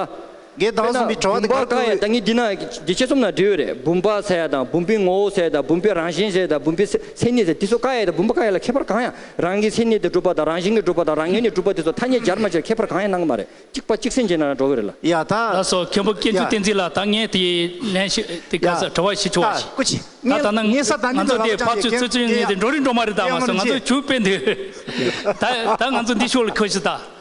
འགལ་དཔེར་ན་ཟླ་གཟུགས་མི་བུམ་པར་གང་ཡང་ད་ངས་འདི་ན་འདི་ཆེད་རྩོམ་ན་འབྲི་འོས་རེད་བུམ་པ་ཟེར་ཡ་དང་བུམ་པའི་ངོ་བོ་ཟེར་དང་བུམ་པའི་རང་བཞིན་ཟེར་དང་བུམ་པའི་མཚན་ཉིད་ཟེར་དེ་ཚོ་ཀ་ཡ་དང་བུམ་པ་ཀ་ཡ་ལ་ཁྱད་པར་གང་ཡང་རང་གི་མཚན་ཉིད་དེ་གྲུབ་པ་དང་རང་བཞིན་གྱི་གྲུབ་པ་དང་རང་ངོས་ནས་གྲུབ་པ་དེ་ཚོ་ཐ་སྙད་སྦྱར་མ་སྦྱར་ཁྱད་པར་གང་ཡང་སྣང་གི་མ་རེད་གཅིག་པ་གཅིག་སེམས་ཅན་ན་རང་གྲོགས་གི་རེད་ལ། ཡ་ད། ད་སོ་མཁན་པོ་སྐྱེ་འཇུག་བསྟན་འཛིན་ལ་ད་ངས་དེ་ལན་ཞིག་དེ་ག་ས་བྲོ་བ་ཞིག་བྱུང་བ་ཞིག་ད་ད་ན་ང་ཚོ་དེ་ཕར་ཚུར་ཚུར་ཚུར་ངས་དེ་འགྲོ་རིན་འགྲོ་མ་རིན་ད་མ་སོ་ང་ཚོ་བྱུས་དཔེ་འདི་ད་ད་ང་ཚོ་འདི་ཤོག་ལ་ཁུར་ཞིག་ད་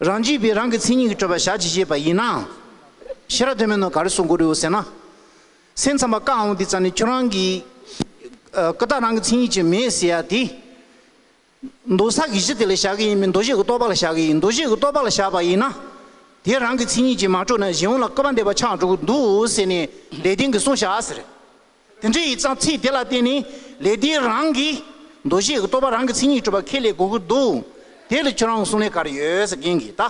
རང་རྒྱུད་པས་རང་གི་མཚན་ཉིད་ཀྱི་སྤྲོས་པ་བཞག་ཅེས་བཤད་པ་ཡིན་ནའང། ཤེས་རབ་དོན་མེད་ནོ་ག་རེ་གསུང་དགོས་རིགས་ཟེར་ན། སེམས་ཙམ་པ་བཀའ་འོང་འདི་ཙམ་ནས་ཁྱོད་རང་གི། ཀུན་བརྟགས་རང་གི་མཚན་ཉིད་ཅིག་མེད་ཟེར་ཡ་དེ། མདོ་བསགས་ཀྱི་གཞི་དེ་ལ་བཞག་གི་ཡིན་མིན་མདོ་བཞེས་ཀྱི་རྟོགས་པ་ལ་བཞག་གི་ཡིན་མདོ་བཞེས་ཀྱི་རྟོགས་པ་ལ་བཞག་པ་ཡིན་ན། དེ་རང་གི་མཚན་ཉིད་ཅིག་མ་གྲུབ་ན་གཞན་འོང་ལ་སྐལ་པ་འདས་པ་ཆགས་འགྲོ་གི་འདུག་ཟེར་ནས་ལས་དོན་གྱི་གསུང་བཞག་ཟེར། དེ་འདྲའི་ཡིག་ཚང་ཚིག་དེ་ལ་བརྟེན་ནས་ལས་དེའི་རང་གི་འདུ་ཤེས་ཀྱི་རྟོག་པ་རང་གི་མཚན་ཉིད་གྲུབ་པ་ཁས་ལེན་དགོས་ཀྱི་འདུག་དེ་ལ་ཁྱོད་རང་གི་གསུང་ལས་གར་ཡོད་ཟེར་མཁན་གྱི་ད་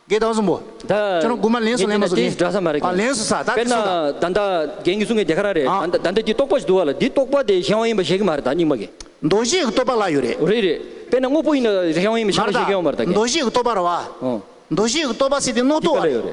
གེ་དང་གསུམ་པོ་ད་ཁྱོད་རང་དགུ་མ་ལན་སུ་ལན་མ་སུ་ལན་ཨ་ལན་སུ་ས་ད་དེ་སུ་ད། ད་ད་རྒན་གྱི་གསུང་གི་དེ་ག་རང་རེད་ད་ད་འདི་རྟོག་པ་ཞིག་འདུག་བ་ལ་འདི་རྟོག་པ་དེ་གཞན་དབང་ཡིན་པ་བཞེད་ཀྱི་མ་རེད་ད་རྙིང་མ་གི། འདུ་ཤེས་ཀྱི་རྟོག་པ་ལ་ཡོད་རེད། རེད་རེད་དཔེར་ན་དངོས་པོ་ཡིན་ན་གཞན་དབང་ཡིན་པ་བཞེད་མ་རེད་ད་གེ། འདུ་ཤེས་ཀྱི་རྟོག་པ་ར་བ་འདུ་ཤེས་ཀྱི་རྟོག་པ་སྲིད་དེ་རྣོ་རྟོག་བ་རེད།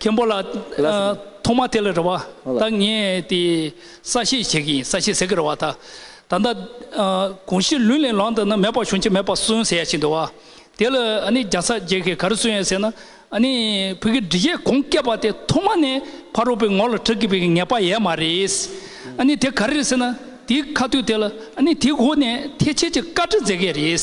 མཁན་པོ་ལགས། ཐོག་མ་དེ་ལ་རེ་བ་ད་ངས་དེ་ས་བཤད་བྱེད་ཀྱི་ཡིན་ས་བཤད་ཟེར་གི་རེ་བ་ད། ད་ལྟ་གོང་ཞིག་ལུས་ལས་ལངས་འདུག་ན་མེད་པ་བྱུང་ཆེད་མེད་པ་གསོན་ཟེར་ཡ་ཞིག་འདུག་བ། དེ་ལ་ཨ་ནི་རྒྱ་ས་རྒྱལ་ཁས་ག་རེ་གསོན་ཡ་ཟེར་ན། ཨ་ནི་བོད་ཀྱི་འབྲི་བྱེད་གོང་བཀད་པ་དེ་ཐོག་མ་ནས་ཕ་རོལ་པོའི་ངོ་ལ་དྲག་གི་བོད་ཀྱི་ངེས་པ་ཡས་མ་རེད། ཨ་ནི་དེ་ག་རེ་རེད་ཟེར་ན་དེའི་ཁ་ཐུག་དེ་ལ་ཨ་ནི་དེའི་སྒོ་ནས་ཐེ་བྱེད་ཀྱི་བཀའ་ཁྲི་མཛད་ཀྱི་རེད།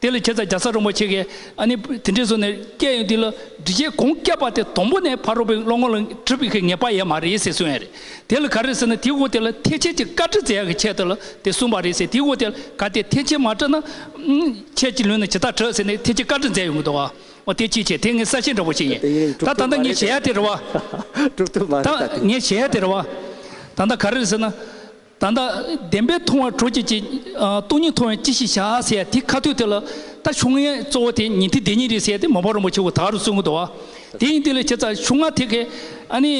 དེ་ལ་ཁྱེད་ཚ་རྒྱ་ས་རོང་པོ་ཆེ་གེ་ཨ་ནི་དེ་འདྲས་སོ་ནས་སྐད་ཡོད་དེ་ལ་འདྲི་ཆེ་གོང་སྐད་པ་དེ་དོང་པོ་ནས་ཕ་རོ་པའི་བློ་ངོ་ལ་འཁྲི་པའི་གེ་ངེས་པ་ཡས་མ་རེད་ཟེ་གསུང་ཡས་རེད་དེ་ལ་ག་རེད་ཟེ་ན་དེ་གོ་དེ་ལ་ཐེ་ཆེ་ཅི་བཀའ་འདྲི་ཛེ་ཡ་གེ་ཆེ་ད་ལ་དེ་གསུང་པ་རེད་ཟེ་དེ་གོ་དེ་ལ་ག་དེ་ཐེ་ཆེ་མ་བཀྲ་ན་ཁྱེད་ཀྱི་ལུས་ན་ཇི་ལྟར་བྲོས་ཟེ་ནས་ཐེ་ཆེ་བཀའ་འདྲི་ཛེ་ཡོང་གི་འདུག་བ་འོ་དེ་ཅི་བྱེད་དེ་ངས་ས་ཆེན་འདྲ་བོ་ཞིག་ཡིན་ད་ད་ད་ངས་བྱེད་ཡ་དེ་རེད་བ་ད་ངས་བྱེད་ཡ་དེ་རེད་བ་ད་ད་ག་རེད་ཟེ་ན། ད་ལྟ་བདེན་པའི་མཐོང་བ་གྲོལ་བྱེད་ཀྱི། སྟོང་ཉིད་མཐོང་བས་ཅི་ཞིག་བྱ་ཟེར་ཡ་དེ་ཁ་ཐོད་དེ་ལ། ད་ཆུང་ངའི་གཙོ་བོ་དེ་ཉིད་དེ་བདེན་གཉིས་རེད་ཟེར་ཏེ་མོ་པ་རིན་པོ་ཆེ་ཧུ་ཐག་རུ་བཙུན་གོ་དོ། དེ་ཡིན་དེ་ལས་བྱེད་ཚ་ཆུང་ང་དེ་གས། ཨ་ནི།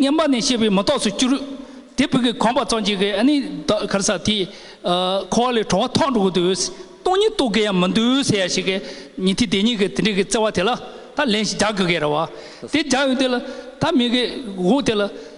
བསྙེན་པ་ནས་བཤད་པའི་མི་རྟོགས་སུ་གྱུར། དེ་བུ་གས་གོམས་པ་གཙང་བྱས་གས་ཨ་ནི། གར་ས་དེས། འཁོར་བ་ལས་གྲོལ་བ་ཐོག་འགྲོ་གོ་དོ། སྟོང་ཉིད་རྟོགས་གས་ཡང་མི་འདུག་ཟེར་ཡ་ཞིག་གས། ཉིད་དེ་བདེན་གཉིས་གས་དེ་འདྲས་གས་བརྩེ་བ་དེ་ལ། ད་ལན་ཞིག་རྒྱག་གི་གས་ར་བ། དེ་རྒྱག་ཡོང་དེ་ལ། ད་མི་གས། དེ་ལ།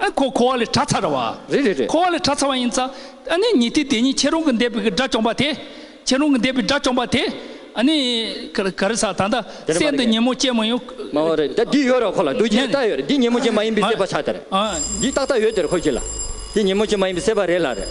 ཨ་ཁོ་ཁོ་བ་ལས་གྲྭ་ཚར་བ། རེད་རེད་རེད། ཁོ་བ་ལས་གྲྭ་ཚར་བ་ཡིན་ཙང་ཨ་ནི་ཉི་ཏི་དེ་ཉིད་ཁྱེད་རང་གི་འདས་པའི་གི་དགྲ་བཅོམ་པ་དེ། ཁྱེད་རང་གི་འདས་པའི་དགྲ་བཅོམ་པ་དེ། ཨ་ནི། ག་རེ་ས་ད་ལྟ་སྲས་འདི་ཉིན་མོ་ཅན་མ་ཡོང། མ་འོ་རེད་ད་འདི་ཡོད་ར་ཁོ་ལ་རྡོ་རྗེའི་རྟགས་ཡོད་རེད་འདི་ཉིན་མོ་ཅན་མ་ཡིན་པའི་སྲས་པ་ཆགས་དེ་རེད། འདི་ཏག་ཏག་ཡོད་དེ་རེད་ཁོ་གྱིས་ལ། འདི་ཉིན་མོ་ཅན་མ་ཡིན་པའི་སྲས་པ་རེད་ལ་རེད།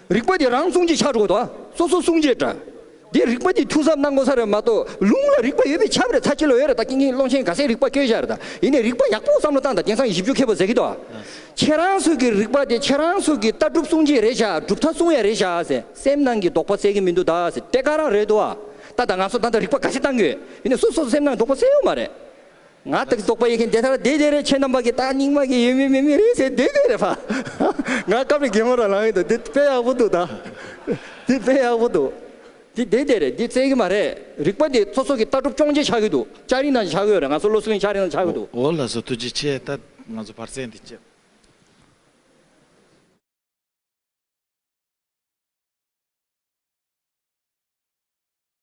རིག་པ་འདི་རང་གསུང་གཅིག་ཕྱག་དྲུག་དང་སོ་སོ་གསུང་གཅིག་འདྲ། འདིར་རིག་པ་འདི་ཐུགས་ཟབ་སྣ་སྒོ་ས་རེ་མ་གཏོགས་ལུང་ལ་རིག་པ་ཡོད་པའི་ཁྱབ་རེ་ཚ་ཁྱི་ལོ་ཡོད་རེ་དང་ཀིང་ཀིང་སློང་ཆེན་ག་སའི་རིག་པ་སྐྱོན་བཞག་རེ་དང་ཡེ་ནས་རིག་པ་ཡག་པོ་བསམ་བློ་བཏང་དང་དེང་སང་བཞི་བཅུ་མཁས་པོ་ཟེར་གི་འདུག་ཁྱེད་རང་ཚོས་ཀྱི་རིག་པ་དེ་ཁྱེད་རང་ཚོས་ཀྱི་ལྟ་གྲུབ་གསུང་གཅིག་རེ་བཞག་གྲུབ་མཐའ་གསུང་ཡ་རེ་བཞག་ཟེར་སེམས་ནང་གི་རྡོག་པ་སེལ་གི་མི་འདུག་ད་ཟེར་དེ་ག་རང་རེད་འདུག་ཨ་ད་ད་ང་ཚོ་ད་ད་རིག་པ་ག་ཤེད་བཏང་གི་ཡོད་ཡེ་ནས་སོ་སོ་སེམས་ནང་གི་རྡོག་པ་སེལ་ཡོད་མ་རེད། ང་དག་རྟོགས་པ་ཡི་གེ་འདི་ལྟར་བདེ་བདེ་རེ་ཁྱེད་རྣམས་པ་གི་རྟགས་སྙིགས་མ་གི་ཡོད་མིན་མེད་མིན་རེ་ཟེར་བདེ་བདེ་རེ་ཧཧཧ་ང་སྐབས་རེ་གད་མོ་རང་ལངས་ཡོད་དོ་འདི་དཔེ་ཡག་པོ་འདུག་ད་འདི་དཔེ་ཡག་པོ་འདུག་འདི་བདེ་བདེ་རེད་འདི་བཙལ་གི་མ་རེད་རིག་པ་འདི་ཚོ་སོག་གི་ལྟ་གྲུབ་སྐྱོང་བྱེད་ཆགས་གི་འདུག་ལྕགས་རི་ནང་ཆགས་གི་ཡོད་རེད་ང་ཚོ་བློ་གཟུ་ལེན་ལྕགས་རི་ནང་ཆགས་གི་འདུག། འོ་ལགས་སོ་ཐུགས་རྗེ་ཆེ་ད་ང་ཚོ་བར་ཚད་འདི་བཅད།